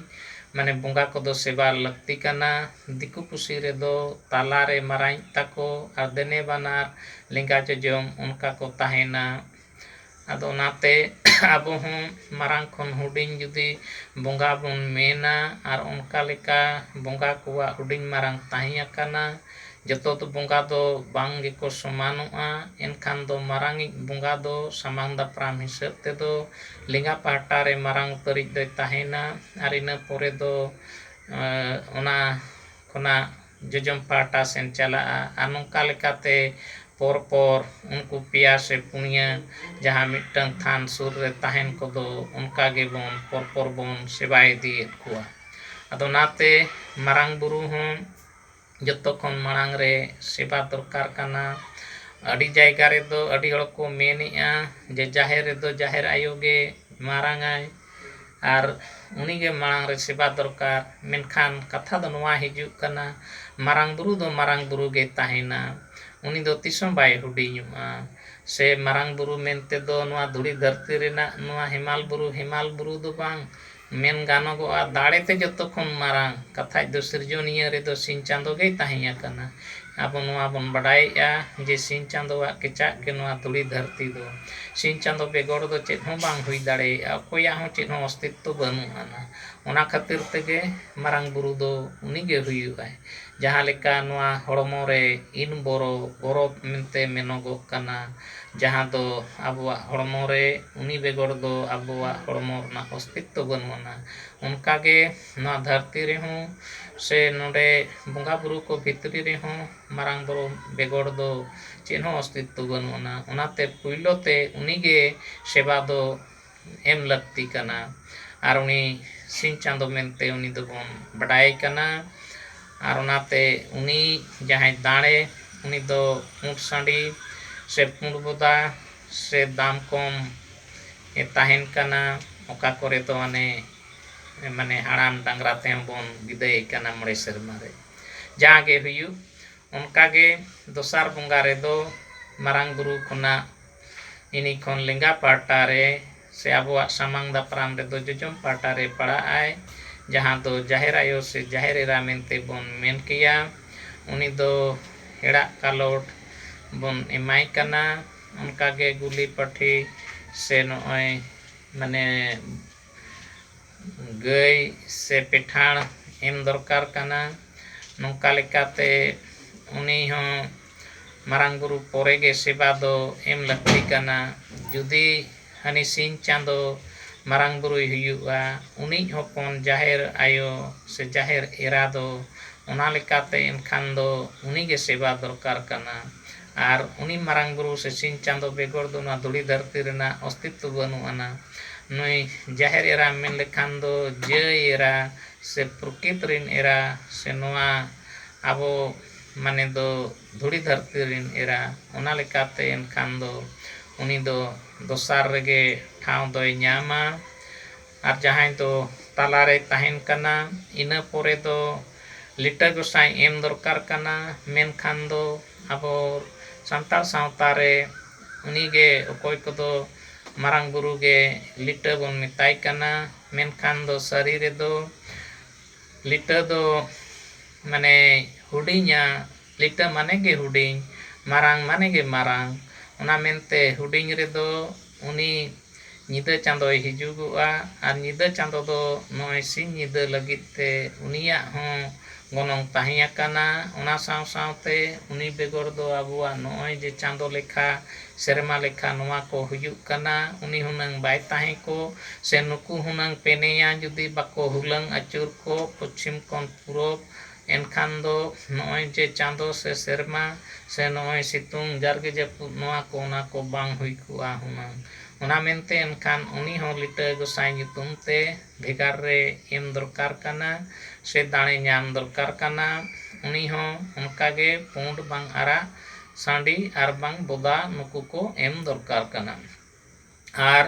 ᱢᱟᱱᱮ ᱵᱚᱸᱜᱟ ᱠᱚᱫᱚ ᱥᱮᱵᱟ ᱞᱟᱹᱠᱛᱤ ᱠᱟᱱᱟ ᱫᱤᱠᱩ ᱯᱩᱥᱤ ᱨᱮᱫᱚ ᱛᱟᱞᱟ ᱨᱮ ᱢᱟᱨᱟᱝᱤᱡ ᱛᱟᱠᱚ ᱟᱨ ᱫᱮᱱᱮ ᱵᱟᱱᱟᱨ ᱞᱮᱸᱜᱟ ᱡᱚᱡᱚᱢ ᱚᱱᱠᱟ ᱠᱚ ᱛᱟᱦᱮᱱᱟ ᱟᱫᱚ ᱚᱱᱟᱛᱮ ᱟᱵᱚ ᱦᱚᱸ ᱢᱟᱨᱟᱝ ᱠᱷᱚᱱ ᱦᱩᱰᱤᱧ ᱡᱩᱫᱤ ᱵᱚᱸᱜᱟ ᱵᱚᱱ ᱢᱮᱱᱟ ᱟᱨ ᱚᱱᱠᱟ ᱞᱮᱠᱟ ᱵᱚᱸᱜᱟ ᱠᱚᱣᱟᱜ ᱦᱩᱰᱤᱧ ᱢᱟᱨᱟᱝ ᱛᱟᱦᱮᱸ ᱟᱠᱟᱱᱟ ᱡᱚᱛᱚ ᱫᱚ ᱵᱚᱸᱜᱟ ᱫᱚ ᱵᱟᱝ ᱜᱮᱠᱚ ᱥᱚᱢᱟᱱᱚᱜᱼᱟ ᱮᱱᱠᱷᱟᱱ ᱫᱚ ᱢᱟᱨᱟᱝ ᱤᱡ ᱵᱚᱸᱜᱟ ᱫᱚ ᱥᱟᱢᱟᱝ ᱫᱟᱯᱨᱟᱢ ᱦᱤᱥᱟᱹᱵᱽ ᱛᱮᱫᱚ ᱞᱮᱸᱜᱟ ᱯᱟᱦᱴᱟ ᱨᱮ ᱢᱟᱨᱟᱝ ᱩᱛᱟᱹᱨᱤᱡ ᱫᱚᱭ ᱛᱟᱦᱮᱱᱟ ᱟᱨ ᱤᱱᱟᱹ ᱯᱚᱨᱮ ᱫᱚ ᱚᱱᱟ ᱠᱷᱚᱱᱟᱜ ᱡᱚᱡᱚᱢ ᱯᱟᱦᱴᱟ ᱥᱮᱱ ᱪᱟᱞᱟᱜᱼᱟ ᱟᱨ ᱱᱚᱝᱠᱟ ᱞᱮᱠᱟᱛᱮ ᱯᱚᱨ ᱯᱚᱨ ᱩᱱᱠᱩ ᱯᱮᱭᱟ ᱥᱮ ᱯᱩᱱᱭᱟᱹ ᱡᱟᱦᱟᱸ ᱢᱤᱫᱴᱟᱹᱝ ᱛᱷᱟᱱ ᱥᱩᱨ ᱨᱮ ᱛᱟᱦᱮᱱ ᱠᱚᱫᱚ ᱚᱱᱠᱟ ᱜᱮᱵᱚᱱ ᱯᱚᱨ ᱯᱚᱨ ᱵᱚᱱ ᱥᱮᱵᱟ ᱤᱫᱤᱭᱮᱫ ᱠᱚᱣᱟ ᱟᱫᱚ ᱚᱱᱟᱛᱮ ᱢᱟᱨᱟᱝ ᱵᱩᱨᱩ ᱦᱚᱸ ᱡᱚᱛᱚ ᱠᱷᱚᱱ ᱢᱟᱲᱟᱝ ᱨᱮ ᱥᱮᱵᱟ ᱫᱚᱨᱠᱟᱨ ᱠᱟᱱᱟ ᱟᱹᱰᱤ ᱡᱟᱭᱜᱟ ᱨᱮᱫᱚ ᱟᱹᱰᱤ ᱦᱚᱲ ᱠᱚ ᱢᱮᱱᱮᱜᱼᱟ ᱡᱮ ᱡᱟᱦᱮᱨ ᱨᱮᱫᱚ ᱡᱟᱦᱮᱨ ᱟᱭᱳ ᱜᱮ ᱢᱟᱨᱟᱝ ᱟᱭ ᱟᱨ ᱩᱱᱤ ᱜᱮ ᱢᱟᱲᱟᱝ ᱨᱮ ᱥᱮᱵᱟ ᱫᱚᱨᱠᱟᱨ᱾ ᱢᱮᱱᱠᱷᱟᱱ ᱠᱟᱛᱷᱟ ᱫᱚ ᱱᱚᱣᱟ ᱦᱤᱡᱩᱜ ᱠᱟᱱᱟ ᱢᱟᱨᱟᱝ ᱵᱩᱨᱩ ᱫᱚ ᱢᱟᱨᱟᱝ ᱵᱩᱨᱩ ᱜᱮᱭ ᱛᱟᱦᱮᱸᱱᱟ᱾ ᱩᱱᱤ ᱫᱚ ᱛᱤᱥ ᱦᱚᱸ ᱵᱟᱭ ᱦᱩᱰᱤᱧᱚᱜᱼᱟ᱾ ᱥᱮ ᱢᱟᱨᱟᱝ ᱵᱩᱨᱩ ᱢᱮᱱᱛᱮ ᱫᱚ ᱱᱚᱣᱟ ᱫᱷᱩᱲᱤ ᱫᱷᱟᱹᱨᱛᱤ ᱨᱮᱱᱟᱜ ᱱᱚᱣᱟ ᱦᱮᱢᱟᱞ ᱵᱩᱨᱩ ᱦᱮᱢᱟᱞ ᱵᱩᱨᱩ ᱫᱚ ᱵᱟᱝ᱾ ᱢᱮᱱ ᱜᱟᱱᱚᱜᱚᱜᱼᱟ ᱫᱟᱲᱮ ᱛᱮ ᱡᱚᱛᱚ ᱠᱷᱚᱱ ᱢᱟᱨᱟᱝ ᱠᱟᱛᱷᱟᱡ ᱫᱚ ᱥᱤᱨᱡᱚᱱᱤᱭᱟᱹ ᱨᱮᱫᱚ ᱥᱤᱧ ᱪᱟᱸᱫᱚ ᱜᱮᱭ ᱛᱟᱦᱮᱸ ᱟᱠᱟᱱᱟ᱾ ᱟᱵᱚ ᱱᱚᱣᱟ ᱵᱚᱱ ᱵᱟᱰᱟᱭᱮᱜᱼᱟ ᱡᱮ ᱥᱤᱧ ᱪᱟᱸᱫᱚᱣᱟᱜ ᱠᱮᱪᱟᱜ ᱜᱮ ᱱᱚᱣᱟ ᱫᱷᱩᱲᱤ ᱫᱷᱟᱹᱨᱛᱤ ᱫᱚ᱾ ᱥᱤᱧ ᱪᱟᱸᱫᱚ ᱵᱮᱜᱚᱨ ᱫᱚ ᱪᱮᱫ ᱦᱚᱸ ᱵᱟᱝ ᱦᱩᱭ ᱫᱟᱲᱮᱭᱟᱜᱼᱟ, ᱚᱠᱚᱭᱟᱜ ᱦᱚᱸ ᱪᱮᱫ ᱦᱚᱸ ᱚᱥᱛᱤᱛᱛᱚ ᱵᱟᱹᱱᱩᱜ ᱟᱱᱟ᱾ ᱚᱱᱟ ᱠᱷᱟᱹᱛᱤᱨ ᱛᱮᱜᱮ ᱢᱟᱨᱟᱝ ᱵᱩᱨᱩ ᱫᱚ ᱩᱱᱤ ᱜᱮ ᱦᱩᱭᱩᱜᱼᱟᱭ᱾ ᱡᱟᱦᱟᱸ ᱞᱮᱠᱟ ᱱᱚᱣᱟ ᱦᱚᱲᱢᱚ ᱨᱮ ᱤᱱ ᱵᱚᱨᱚ, ᱵᱚᱨᱚ ᱢᱮᱱᱛᱮ ᱢᱮᱱᱚᱜᱚᱜ ᱠᱟᱱᱟ, ᱡᱟᱦᱟᱸ ᱫᱚ ᱟᱵᱚᱣᱟᱜ ᱦᱚᱲᱢᱚ ᱨᱮ ᱩᱱᱤ ᱵᱮᱜᱚᱨ ᱫᱚ ᱟᱵᱚᱣᱟᱜ ᱦᱚᱲᱢᱚ ᱨᱮᱱᱟᱜ ᱚᱥᱛᱤᱛᱛᱚ ᱵᱟᱹᱱᱩᱜ ᱟᱱᱟ, ᱚᱱᱠᱟ ᱜᱮ ᱱᱚᱣᱟ ᱫᱷᱟᱹᱨᱛᱤ ᱨᱮᱦᱚᱸ ᱥᱮ ᱱᱚᱸᱰᱮ ᱵᱚᱸᱜᱟ ᱵᱩᱨᱩ ᱠᱚ ᱵᱷᱤᱛᱨᱤ ᱨᱮᱦᱚᱸ ᱢᱟᱨᱟᱝ ᱵᱩᱨᱩ ᱵᱮᱜᱚᱨ ᱫᱚ ᱪᱮᱫ ᱦᱚᱸ ᱚᱥᱛᱤᱛᱛᱚ ᱵᱟᱹᱱᱩᱜ ᱟᱱᱟ ᱚᱱᱟᱛᱮ ᱯᱩᱭᱞᱩ ᱛᱮ ᱩᱱᱤ ᱜᱮ ᱥᱮᱵᱟ ᱫᱚ ᱮᱢ ᱞᱟᱹᱠᱛᱤ ᱠᱟᱱᱟ ᱟᱨ ᱩᱱᱤ ᱥᱤᱧ ᱪᱟᱸᱫᱚ ᱢᱮᱱᱛᱮ ᱩᱱᱤ ᱫᱚᱵᱚᱱ ᱵᱟᱰᱟᱭᱮ ᱠᱟᱱᱟ ᱟᱨ ᱚᱱᱟᱛᱮ ᱩᱱᱤ ᱡᱟᱦᱟᱸᱭ ᱫᱟᱲᱮ ᱩᱱᱤ ᱫᱚ ᱯᱩᱸᱰ ᱥᱟᱺᱰᱤ ᱥᱮ ᱯᱩᱸᱰ ᱵᱚᱫᱟ ᱥᱮ ᱫᱟᱢ ᱠᱚᱢ ᱮ ᱛᱟᱦᱮᱱ ᱠᱟᱱᱟ ᱚᱠᱟ ᱠᱚᱨᱮ ᱫᱚ ᱦᱟᱱᱮ ᱢᱟᱱᱮ ᱦᱟᱲᱟᱢ ᱰᱟᱝᱨᱟ ᱛᱮᱦᱚᱸ ᱵᱚᱱ ᱵᱤᱫᱟᱹᱭᱮ ᱠᱟᱱᱟ ᱢᱚᱬᱮ ᱥᱮᱨᱢᱟ ᱨᱮ ᱡᱟᱦᱟᱸ ᱜᱮ ᱦᱩᱭᱩᱜ ᱚᱱᱠᱟ ᱜᱮ ᱫᱚᱥᱟᱨ ᱵᱚᱸᱜᱟ ᱨᱮᱫᱚ ᱢᱟᱨᱟᱝ ᱵᱩᱨᱩ ᱠᱷᱚᱱᱟᱜ ᱤᱱᱤ ᱠᱷᱚᱱ ᱞᱮᱸᱜᱟ ᱯᱟᱦᱴᱟ ᱨᱮ ᱥᱮ ᱟᱵᱚᱣᱟᱜ ᱥᱟᱢᱟᱝ ᱫᱟᱯᱨᱟᱢ ᱨᱮᱫᱚ ᱡᱚᱡᱚᱢ ᱯᱟᱦᱴᱟ ᱨᱮ ᱯᱟᱲᱟᱜ ᱟᱭ ᱡᱟᱦᱟᱸ ᱫᱚ ᱡᱟᱦᱮᱨ ᱟᱭᱳ ᱥᱮ ᱡᱟᱦᱮᱨ ᱮᱨᱟ ᱢᱮᱱᱛᱮ ᱵᱚᱱ ᱢᱮᱱ ᱠᱮᱭᱟ ᱩᱱᱤ ᱫᱚ ᱦᱮᱲᱟᱜ ᱠᱟᱞᱚᱴ ᱵᱚᱱ ᱮᱢᱟᱭ ᱠᱟᱱᱟ ᱚᱱᱠᱟ ᱜᱮ ᱜᱩᱞᱤ ᱯᱟᱹᱴᱷᱤ ᱥᱮ ᱱᱚᱜᱼᱚᱸᱭ ᱢᱟᱱᱮ ᱜᱟᱹᱭ ᱥᱮ ᱯᱮᱴᱷᱟᱲ ᱮᱢ ᱫᱚᱨᱠᱟᱨ ᱠᱟᱱᱟ ᱱᱚᱝᱠᱟ ᱞᱮᱠᱟᱛᱮ ᱩᱱᱤ ᱦᱚᱸ ᱢᱟᱨᱟᱝ ᱵᱩᱨᱩ ᱯᱚᱨᱮ ᱜᱮ ᱥᱮᱵᱟ ᱫᱚ ᱮᱢ ᱞᱟᱹᱠᱛᱤ ᱠᱟᱱᱟ ᱡᱩᱫᱤ ᱦᱟᱹᱱᱤ ᱥᱤᱧ ᱪᱟᱸᱫᱚ ᱢᱟᱨᱟᱝ ᱵᱩᱨᱩᱭ ᱦᱩᱭᱩᱜᱼᱟ ᱩᱱᱤᱭᱤᱡ ᱦᱚᱯᱚᱱ ᱡᱟᱦᱮᱨ ᱟᱭᱳ ᱥᱮ ᱡᱟᱦᱮᱨ ᱮᱨᱟ ᱫᱚ ᱚᱱᱟ ᱞᱮᱠᱟᱛᱮ ᱮᱱᱠᱷᱟᱱ ᱫᱚ ᱩᱱᱤᱜᱮ ᱥᱮᱵᱟ ᱫᱚᱨᱠᱟᱨ ᱠᱟᱱᱟ ᱟᱨ ᱩᱱᱤ ᱢᱟᱨᱟᱝ ᱵᱩᱨᱩ ᱥᱮ ᱥᱤᱧ ᱪᱟᱸᱫᱚ ᱵᱮᱜᱚᱨ ᱫᱚ ᱱᱚᱣᱟ ᱫᱷᱩᱲᱤ ᱫᱷᱟᱹᱨᱛᱤ ᱨᱮᱱᱟᱜ ᱚᱥᱛᱤᱛᱛᱚ ᱵᱟᱹᱱᱩᱜ ᱟᱱᱟ᱾ ᱱᱩᱭ ᱡᱟᱦᱮᱨ ᱮᱨᱟᱢ ᱢᱮᱱ ᱞᱮᱠᱷᱟᱱ ᱫᱚ ᱡᱟᱹᱭ ᱮᱨᱟ ᱥᱮ ᱯᱨᱚᱠᱤᱛ ᱨᱤᱱ ᱮᱨᱟ ᱥᱮ ᱱᱚᱣᱟ ᱟᱵᱚ ᱢᱟᱱᱮ ᱫᱚ ᱫᱷᱩᱲᱤ ᱫᱷᱟᱹᱨᱛᱤ ᱨᱤᱱ ᱮᱨᱟ᱾ ᱚᱱᱟ ᱞᱮᱠᱟᱛᱮ ᱮᱱᱠᱷᱟᱱ ᱫᱚ ᱩᱱᱤ ᱫᱚ ᱫᱚᱥᱟᱨ ᱨᱮᱜᱮ ᱴᱷᱟᱶ ᱫᱚᱭ ᱧᱟᱢᱟ᱾ ᱟᱨ ᱡᱟᱦᱟᱸᱭ ᱫᱚ ᱛᱟᱞᱟ ᱨᱮᱭ ᱛᱟᱦᱮᱱ ᱠᱟᱱᱟ ᱤᱱᱟᱹ ᱯᱚᱨᱮ ᱫᱚ ᱞᱤᱴᱟᱹ ᱜᱚᱸᱥᱟᱭ ᱮᱢ ᱫᱚᱨᱠᱟᱨ ᱠᱟᱱᱟ ᱢᱮᱱᱠᱷᱟᱱ ᱫᱚ ᱟᱵᱚ ᱥᱟᱱᱛᱟᱲ ᱥᱟᱶᱛᱟ ᱨᱮ ᱩᱱᱤ ᱜᱮ ᱚᱠᱚᱭ ᱠᱚᱫᱚ ᱢᱟᱨᱟᱝ ᱵᱩᱨᱩ ᱜᱮ ᱞᱤᱴᱟᱹ ᱵᱚᱱ ᱢᱮᱛᱟᱭ ᱠᱟᱱᱟ ᱢᱮᱱᱠᱷᱟᱱ ᱫᱚ ᱥᱟᱹᱨᱤ ᱨᱮᱫᱚ ᱞᱤᱴᱟᱹ ᱫᱚ ᱢᱟᱱᱮ ᱦᱩᱰᱤᱧᱟ ᱞᱤᱴᱟᱹ ᱢᱟᱱᱮ ᱜᱮ ᱦᱩᱰᱤᱧ ᱢᱟᱨᱟᱝ ᱢᱟᱱᱮ ᱜᱮ ᱢᱟᱨᱟᱝ ᱚᱱᱟ ᱢᱮᱱᱛᱮ ᱦᱩᱰᱤᱧ ᱨᱮᱫᱚ ᱩᱱᱤ ᱧᱤᱫᱟᱹ ᱪᱟᱸᱫᱚᱭ ᱦᱤᱡᱩᱜᱚᱜᱼᱟ ᱟᱨ ᱧᱤᱫᱟᱹ ᱪᱟᱸᱫᱚ ᱫᱚ ᱱᱚᱜᱼᱚᱭ ᱥᱤᱧ ᱧᱤᱫᱟᱹ ᱞᱟᱹᱜᱤᱫ ᱛᱮ ᱩᱱᱤᱭᱟᱜ ᱦᱚᱸ ᱜᱚᱱᱚᱝ ᱛᱟᱦᱮᱸ ᱟᱠᱟᱱᱟ᱾ ᱚᱱᱟ ᱥᱟᱶ ᱥᱟᱶᱛᱮ ᱩᱱᱤ ᱵᱮᱜᱚᱨ ᱫᱚ ᱟᱵᱚᱣᱟᱜ ᱱᱚᱜᱼᱚᱭ ᱡᱮ ᱪᱟᱸᱫᱚ ᱞᱮᱠᱷᱟ, ᱥᱮᱨᱢᱟ ᱞᱮᱠᱷᱟ ᱱᱚᱣᱟ ᱠᱚ ᱦᱩᱭᱩᱜ ᱠᱟᱱᱟ ᱩᱱᱤ ᱦᱩᱱᱟᱹᱝ ᱵᱟᱭ ᱛᱟᱦᱮᱸ ᱠᱚᱜ ᱥᱮ ᱱᱩᱠᱩ ᱦᱩᱱᱟᱹᱝ ᱯᱮᱱᱮᱭᱟ ᱡᱩᱫᱤ ᱵᱟᱠᱚ ᱦᱩᱞᱟᱹᱝ ᱟᱹᱪᱩᱨ ᱠᱚᱜ ᱯᱚᱪᱷᱤᱢ ᱠᱷᱚᱱ ᱯᱩᱨᱚᱵᱽ᱾ ᱮᱱᱠᱷᱟᱱ ᱫᱚ ᱱᱚᱜᱼᱚᱭ ᱡᱮ ᱪᱟᱸᱫᱚ ᱥᱮ ᱥᱮᱨᱢᱟ ᱥᱮ ᱱᱚᱜᱼᱚᱭ ᱥᱤᱛᱩᱝ ᱡᱟᱨᱜᱮ ᱡᱟᱹᱯᱩᱫ ᱱᱚᱣᱟ ᱠᱚ ᱚᱱᱟ ᱠᱚ ᱵᱟᱝ ᱦᱩᱭ ᱠᱚᱜᱼᱟ ᱦᱩᱱᱟᱹᱝ᱾ ᱚᱱᱟ ᱢᱮᱱᱛᱮ ᱮᱱᱠᱷᱟᱱ ᱩᱱᱤ ᱦᱚᱸ ᱞᱤᱴᱟᱹ ᱜᱚᱸᱥᱟᱭ ᱧᱩᱛᱩᱢ ᱛᱮ ᱵᱷᱮᱜᱟᱨ ᱨᱮ ᱮᱢ ᱫᱚᱨᱠᱟᱨ ᱠᱟᱱᱟ ᱥᱮ ᱫᱟᱲᱮ ᱧᱟᱢ ᱫᱚᱨᱠᱟᱨ ᱠᱟᱱᱟ᱾ ᱩᱱᱤ ᱦᱚᱸ ᱚᱱᱠᱟ ᱜᱮ ᱯᱩᱸᱰ ᱵᱟᱝ ᱟᱨᱟᱜ ᱥᱟᱺᱰᱤ ᱟᱨ ᱵᱟᱝ ᱵᱚᱫᱟ ᱱᱩᱠᱩ ᱠᱚ ᱮᱢ ᱫᱚᱨᱠᱟᱨ ᱠᱟᱱᱟ᱾ ᱟᱨ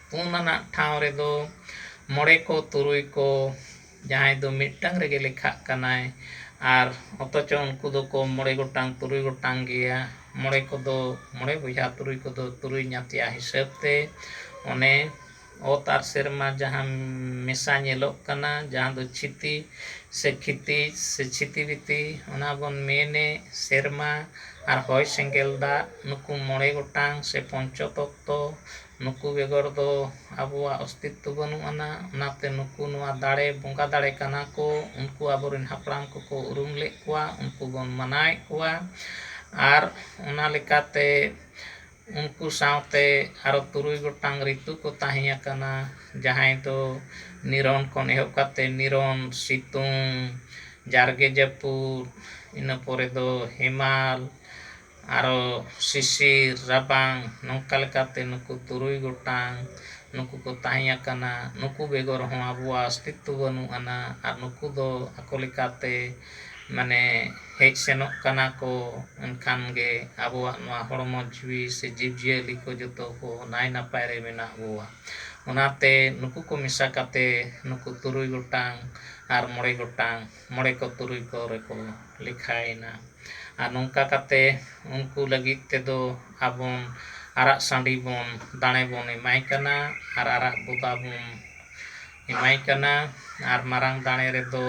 ᱯᱩᱱ ᱟᱱᱟᱜ ᱴᱷᱟᱶ ᱨᱮᱫᱚ ᱢᱚᱬᱮ ᱠᱚ ᱛᱩᱨᱩᱭ ᱠᱚ ᱡᱟᱦᱟᱸᱭ ᱫᱚ ᱢᱤᱫᱴᱟᱝ ᱨᱮᱜᱮ ᱞᱮᱠᱷᱟᱜ ᱠᱟᱱᱟᱭ ᱟᱨ ᱚᱛᱷᱚᱪᱚ ᱩᱱᱠᱩ ᱫᱚᱠᱚ ᱢᱚᱬᱮ ᱜᱚᱴᱟᱝ ᱛᱩᱨᱩᱭ ᱜᱚᱴᱟᱝ ᱜᱮᱭᱟ ᱢᱚᱬᱮ ᱠᱚᱫᱚ ᱢᱚᱬᱮ ᱵᱚᱭᱦᱟ ᱛᱩᱨᱩᱭ ᱠᱚᱫᱚ ᱛᱩᱨᱩᱭ ᱧᱟᱛᱭᱟ ᱦᱤᱥᱟᱹᱵᱽ ᱛᱮ ᱚᱱᱮ ᱚᱛ ᱟᱨ ᱥᱮᱨᱢᱟ ᱡᱟᱦᱟᱸ ᱢᱮᱥᱟ ᱧᱮᱞᱚᱜ ᱠᱟᱱᱟ ᱡᱟᱦᱟᱸ ᱫᱚ ᱪᱷᱤᱛᱤ ᱥᱮ ᱠᱷᱤᱛᱤ ᱥᱮ ᱪᱷᱤᱛᱤ ᱵᱤᱛᱤ ᱚᱱᱟ ᱵᱚᱱ ᱢᱮᱱᱮᱫ ᱥᱮᱨᱢᱟ ᱟᱨ ᱦᱚᱭ ᱥᱮᱸᱜᱮᱞ ᱫᱟᱜ ᱱᱩᱠᱩ ᱢᱚᱬᱮ ᱜᱚᱴᱟᱝ ᱥᱮ ᱯᱚᱧᱪᱚ ᱛᱚᱛᱛᱚ ᱱᱩᱠᱩ ᱵᱮᱜᱚᱨ ᱫᱚ ᱟᱵᱚᱣᱟᱜ ᱚᱥᱛᱤᱛᱛᱚ ᱵᱟᱹᱱᱩᱜ ᱟᱱᱟ ᱚᱱᱟᱛᱮ ᱱᱩᱠᱩ ᱱᱚᱣᱟ ᱫᱟᱲᱮ ᱵᱚᱸᱜᱟ ᱫᱟᱲᱮ ᱠᱟᱱᱟ ᱠᱚ ᱩᱱᱠᱩ ᱟᱵᱚ ᱨᱮᱱ ᱦᱟᱯᱲᱟᱢ ᱠᱚᱠᱚ ᱩᱨᱩᱢ ᱞᱮᱫ ᱠᱚᱣᱟ ᱩᱱᱠᱩ ᱵᱚᱱ ᱢᱟᱱᱟᱣᱮᱫ ᱠᱚᱣᱟ ᱟᱨ ᱚᱱᱟ ᱞᱮᱠᱟᱛᱮ ᱩᱱᱠᱩ ᱥᱟᱶᱛᱮ ᱟᱨᱚ ᱛᱩᱨᱩᱭ ᱜᱚᱴᱟᱝ ᱨᱤᱛᱩ ᱠᱚ ᱛᱟᱦᱮᱸ ᱟᱠᱟᱱᱟ ᱡᱟᱦᱟᱸᱭ ᱫᱚ ᱱᱤᱨᱚᱱ ᱠᱷᱚᱱ ᱮᱦᱚᱵ ᱠᱟᱛᱮ ᱱᱤᱨᱚᱱ, ᱥᱤᱛᱩᱝ, ᱡᱟᱨᱜᱮ ᱡᱟᱹᱯᱩᱫ, ᱤᱱᱟᱹ ᱯᱚᱨᱮ ᱫᱚ ᱦᱮᱢᱟᱞ, ᱟᱨᱚ ᱥᱤᱥᱤᱨ, ᱨᱟᱵᱟᱝ, ᱱᱚᱝᱠᱟ ᱞᱮᱠᱟᱛᱮ ᱱᱩᱠᱩ ᱛᱩᱨᱩᱭ ᱜᱚᱴᱟᱝ ᱱᱩᱠᱩ ᱠᱚ ᱛᱟᱦᱮᱸ ᱟᱠᱟᱱᱟ᱾ ᱱᱩᱠᱩ ᱵᱮᱜᱚᱨ ᱦᱚᱸ ᱟᱵᱚᱣᱟᱜ ᱚᱥᱛᱤᱛᱛᱚ ᱵᱟᱹᱱᱩᱜ ᱟᱱᱟ ᱟᱨ ᱱᱩᱠᱩ ᱫᱚ ᱟᱠᱚ ᱞᱮᱠᱟᱛᱮ ᱢᱟᱱᱮ ᱦᱮᱡ ᱥᱮᱱᱚᱜ ᱠᱟᱱᱟ ᱠᱚ ᱮᱱᱠᱷᱟᱱ ᱜᱮ ᱟᱵᱚᱣᱟᱜ ᱱᱚᱣᱟ ᱦᱚᱲᱢᱚ ᱡᱤᱣᱤ ᱥᱮ ᱡᱤᱵᱽ ᱡᱤᱭᱟᱹᱞᱤ ᱠᱚ ᱡᱚᱛᱚ ᱠᱚ ᱱᱟᱭ ᱱᱟᱯᱟᱭ ᱨᱮ ᱢᱮᱱᱟᱜ ᱵᱚᱣᱟ ᱚᱱᱟᱛᱮ ᱱᱩᱠᱩ ᱠᱚ ᱢᱮᱥᱟ ᱠᱟᱛᱮ ᱱᱩᱠᱩ ᱛᱩᱨᱩᱭ ᱜᱚᱴᱟᱝ ᱟᱨ ᱢᱚᱬᱮ ᱜᱚᱴᱟᱝ ᱢᱚᱬᱮ ᱠᱚ ᱛᱩᱨᱩᱭ ᱠᱚ ᱨᱮᱠᱚ ᱞᱮᱠᱷᱟᱭᱮᱱᱟ ᱟᱨ ᱱᱚᱝᱠᱟ ᱠᱟᱛᱮ ᱩᱱᱠᱩ ᱞᱟᱹᱜᱤᱫ ᱛᱮᱫᱚ ᱟᱵᱚᱱ ᱟᱨᱟᱜ ᱥᱟᱺᱰᱤ ᱵᱚᱱ ᱫᱟᱲᱮ ᱵᱚᱱ ᱮᱢᱟᱭ ᱠᱟᱱᱟ ᱟᱨ ᱟᱨᱟᱜ ᱵᱚᱫᱟ ᱵᱚᱱ ᱮᱢᱟᱭ ᱠᱟᱱᱟ ᱟᱨ ᱢᱟᱨᱟᱝ ᱫᱟᱲᱮ ᱨᱮᱫᱚ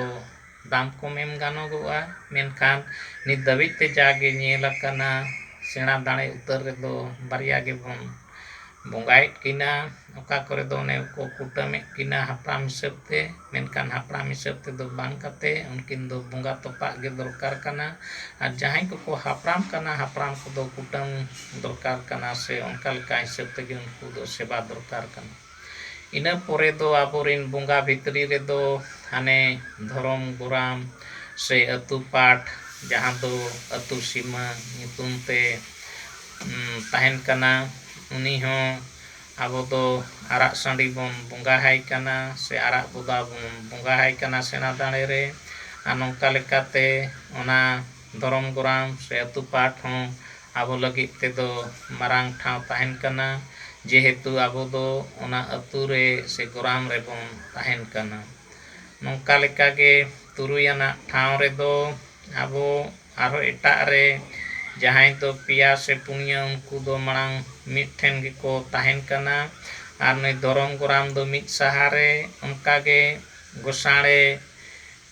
ᱫᱟᱢ ᱠᱚ ᱢᱮᱱ ᱜᱟᱱᱚᱜᱚᱜᱼᱟ ᱢᱮᱱᱠᱷᱟᱱ ᱱᱤᱛ ᱫᱷᱟᱹᱵᱤᱡ ᱛᱮ ᱡᱟ ᱜᱮ ᱧᱮᱞ ᱟᱠᱟᱱᱟ ᱥᱮᱬᱟ ᱫᱟᱲᱮ ᱩᱛᱟᱹᱨ ᱨᱮᱫᱚ ᱵᱟᱨᱭᱟ ᱜᱮᱵᱚᱱ ᱵᱚᱸᱜᱟᱭᱮᱫ ᱠᱤᱱᱟ ᱚᱠᱟ ᱠᱚᱨᱮ ᱫᱚ ᱚᱱᱮ ᱠᱚ ᱠᱩᱴᱟᱹᱢᱮᱫ ᱠᱤᱱᱟ ᱦᱟᱯᱲᱟᱢ ᱦᱤᱥᱟᱹᱵ ᱛᱮ ᱢᱮᱱᱠᱷᱟᱱ ᱦᱟᱯᱲᱟᱢ ᱦᱤᱥᱟᱹᱵ ᱛᱮᱫᱚ ᱵᱟᱝ ᱠᱟᱛᱮᱫ ᱩᱱᱠᱤᱱ ᱫᱚ ᱵᱚᱸᱜᱟ ᱛᱚᱯᱟᱜ ᱜᱮ ᱫᱚᱨᱠᱟᱨ ᱠᱟᱱᱟ ᱟᱨ ᱡᱟᱦᱟᱸᱭ ᱠᱚᱠᱚ ᱦᱟᱯᱲᱟᱢ ᱠᱟᱱᱟ ᱦᱟᱯᱲᱟᱢ ᱠᱚᱫᱚ ᱠᱩᱴᱟᱹᱢ ᱫᱚᱨᱠᱟᱨ ᱠᱟᱱᱟ ᱥᱮ ᱚᱱᱠᱟ ᱞᱮᱠᱟ ᱦᱤᱥᱟᱹᱵ ᱛᱮᱜᱮ ᱩᱱᱠᱩ ᱫᱚ ᱥᱮᱵᱟ ᱫᱚᱨᱠᱟᱨ ᱠᱟᱱᱟ ᱤᱱᱟᱹ ᱯᱚᱨᱮ ᱫᱚ ᱟᱵᱚ ᱨᱤᱱ ᱵᱚᱸᱜᱟ ᱵᱷᱤᱛᱨᱤ ᱨᱮᱫᱚ ᱦᱟᱱᱮ ᱫᱷᱚᱨᱚᱢ ᱜᱚᱨᱟᱢ ᱥᱮ ᱟᱹᱛᱩ ᱯᱟᱴ ᱡᱟᱦᱟᱸ ᱫᱚ ᱟᱹᱛᱩ ᱥᱤᱢᱟᱹ ᱧᱩᱛᱩᱢ ᱛᱮ ᱛᱟᱦᱮᱱ ᱠᱟᱱᱟ ᱩᱱᱤ ᱦᱚᱸ ᱟᱵᱚ ᱫᱚ ᱟᱨᱟᱜ ᱥᱟᱺᱰᱤ ᱵᱚᱱ ᱵᱚᱸᱜᱟ ᱟᱭ ᱠᱟᱱᱟ ᱥᱮ ᱟᱨᱟᱜ ᱵᱚᱫᱟ ᱵᱚᱱ ᱵᱚᱸᱜᱟ ᱟᱭ ᱠᱟᱱᱟ ᱥᱮᱬᱟ ᱫᱟᱲᱮ ᱨᱮ ᱟᱨ ᱱᱚᱝᱠᱟ ᱞᱮᱠᱟᱛᱮ ᱚᱱᱟ ᱫᱷᱚᱨᱚᱢ ᱜᱚᱨᱟᱢ ᱥᱮ ᱟᱹᱛᱩ ᱯᱟᱴ ᱦᱚᱸ ᱟᱵᱚ ᱞᱟᱹᱜᱤᱫ ᱛᱮᱫᱚ ᱢᱟᱨᱟᱝ ᱴᱷᱟᱶ ᱛᱟᱦᱮᱱ ᱠᱟᱱᱟ ᱡᱮᱦᱮᱛᱩ ᱟᱵᱚ ᱫᱚ ᱚᱱᱟ ᱟᱹᱛᱩ ᱨᱮ ᱥᱮ ᱜᱚᱨᱟᱢ ᱨᱮᱵᱚᱱ ᱛᱟᱦᱮᱱ ᱠᱟᱱᱟ᱾ ᱱᱚᱝᱠᱟ ᱞᱮᱠᱟ ᱜᱮ ᱛᱩᱨᱩᱭ ᱟᱱᱟᱜ ᱴᱷᱟᱶ ᱨᱮᱫᱚ ᱟᱵᱚ ᱟᱨᱦᱚᱸ ᱮᱴᱟᱜ ᱨᱮ ᱡᱟᱦᱟᱸᱭ ᱫᱚ ᱯᱮᱭᱟ ᱥᱮ ᱯᱩᱱᱭᱟᱹ ᱩᱱᱠᱩ ᱫᱚ ᱢᱟᱲᱟᱝ ᱢᱤᱫ ᱴᱷᱮᱱ ᱜᱮᱠᱚ ᱛᱟᱦᱮᱱ ᱠᱟᱱᱟ ᱟᱨ ᱱᱩᱭ ᱫᱷᱚᱨᱚᱢ ᱜᱚᱨᱟᱢ ᱫᱚ ᱢᱤᱫ ᱥᱟᱦᱟ ᱨᱮ ᱚᱱᱠᱟ ᱜᱮ ᱜᱚᱥᱟᱬᱮ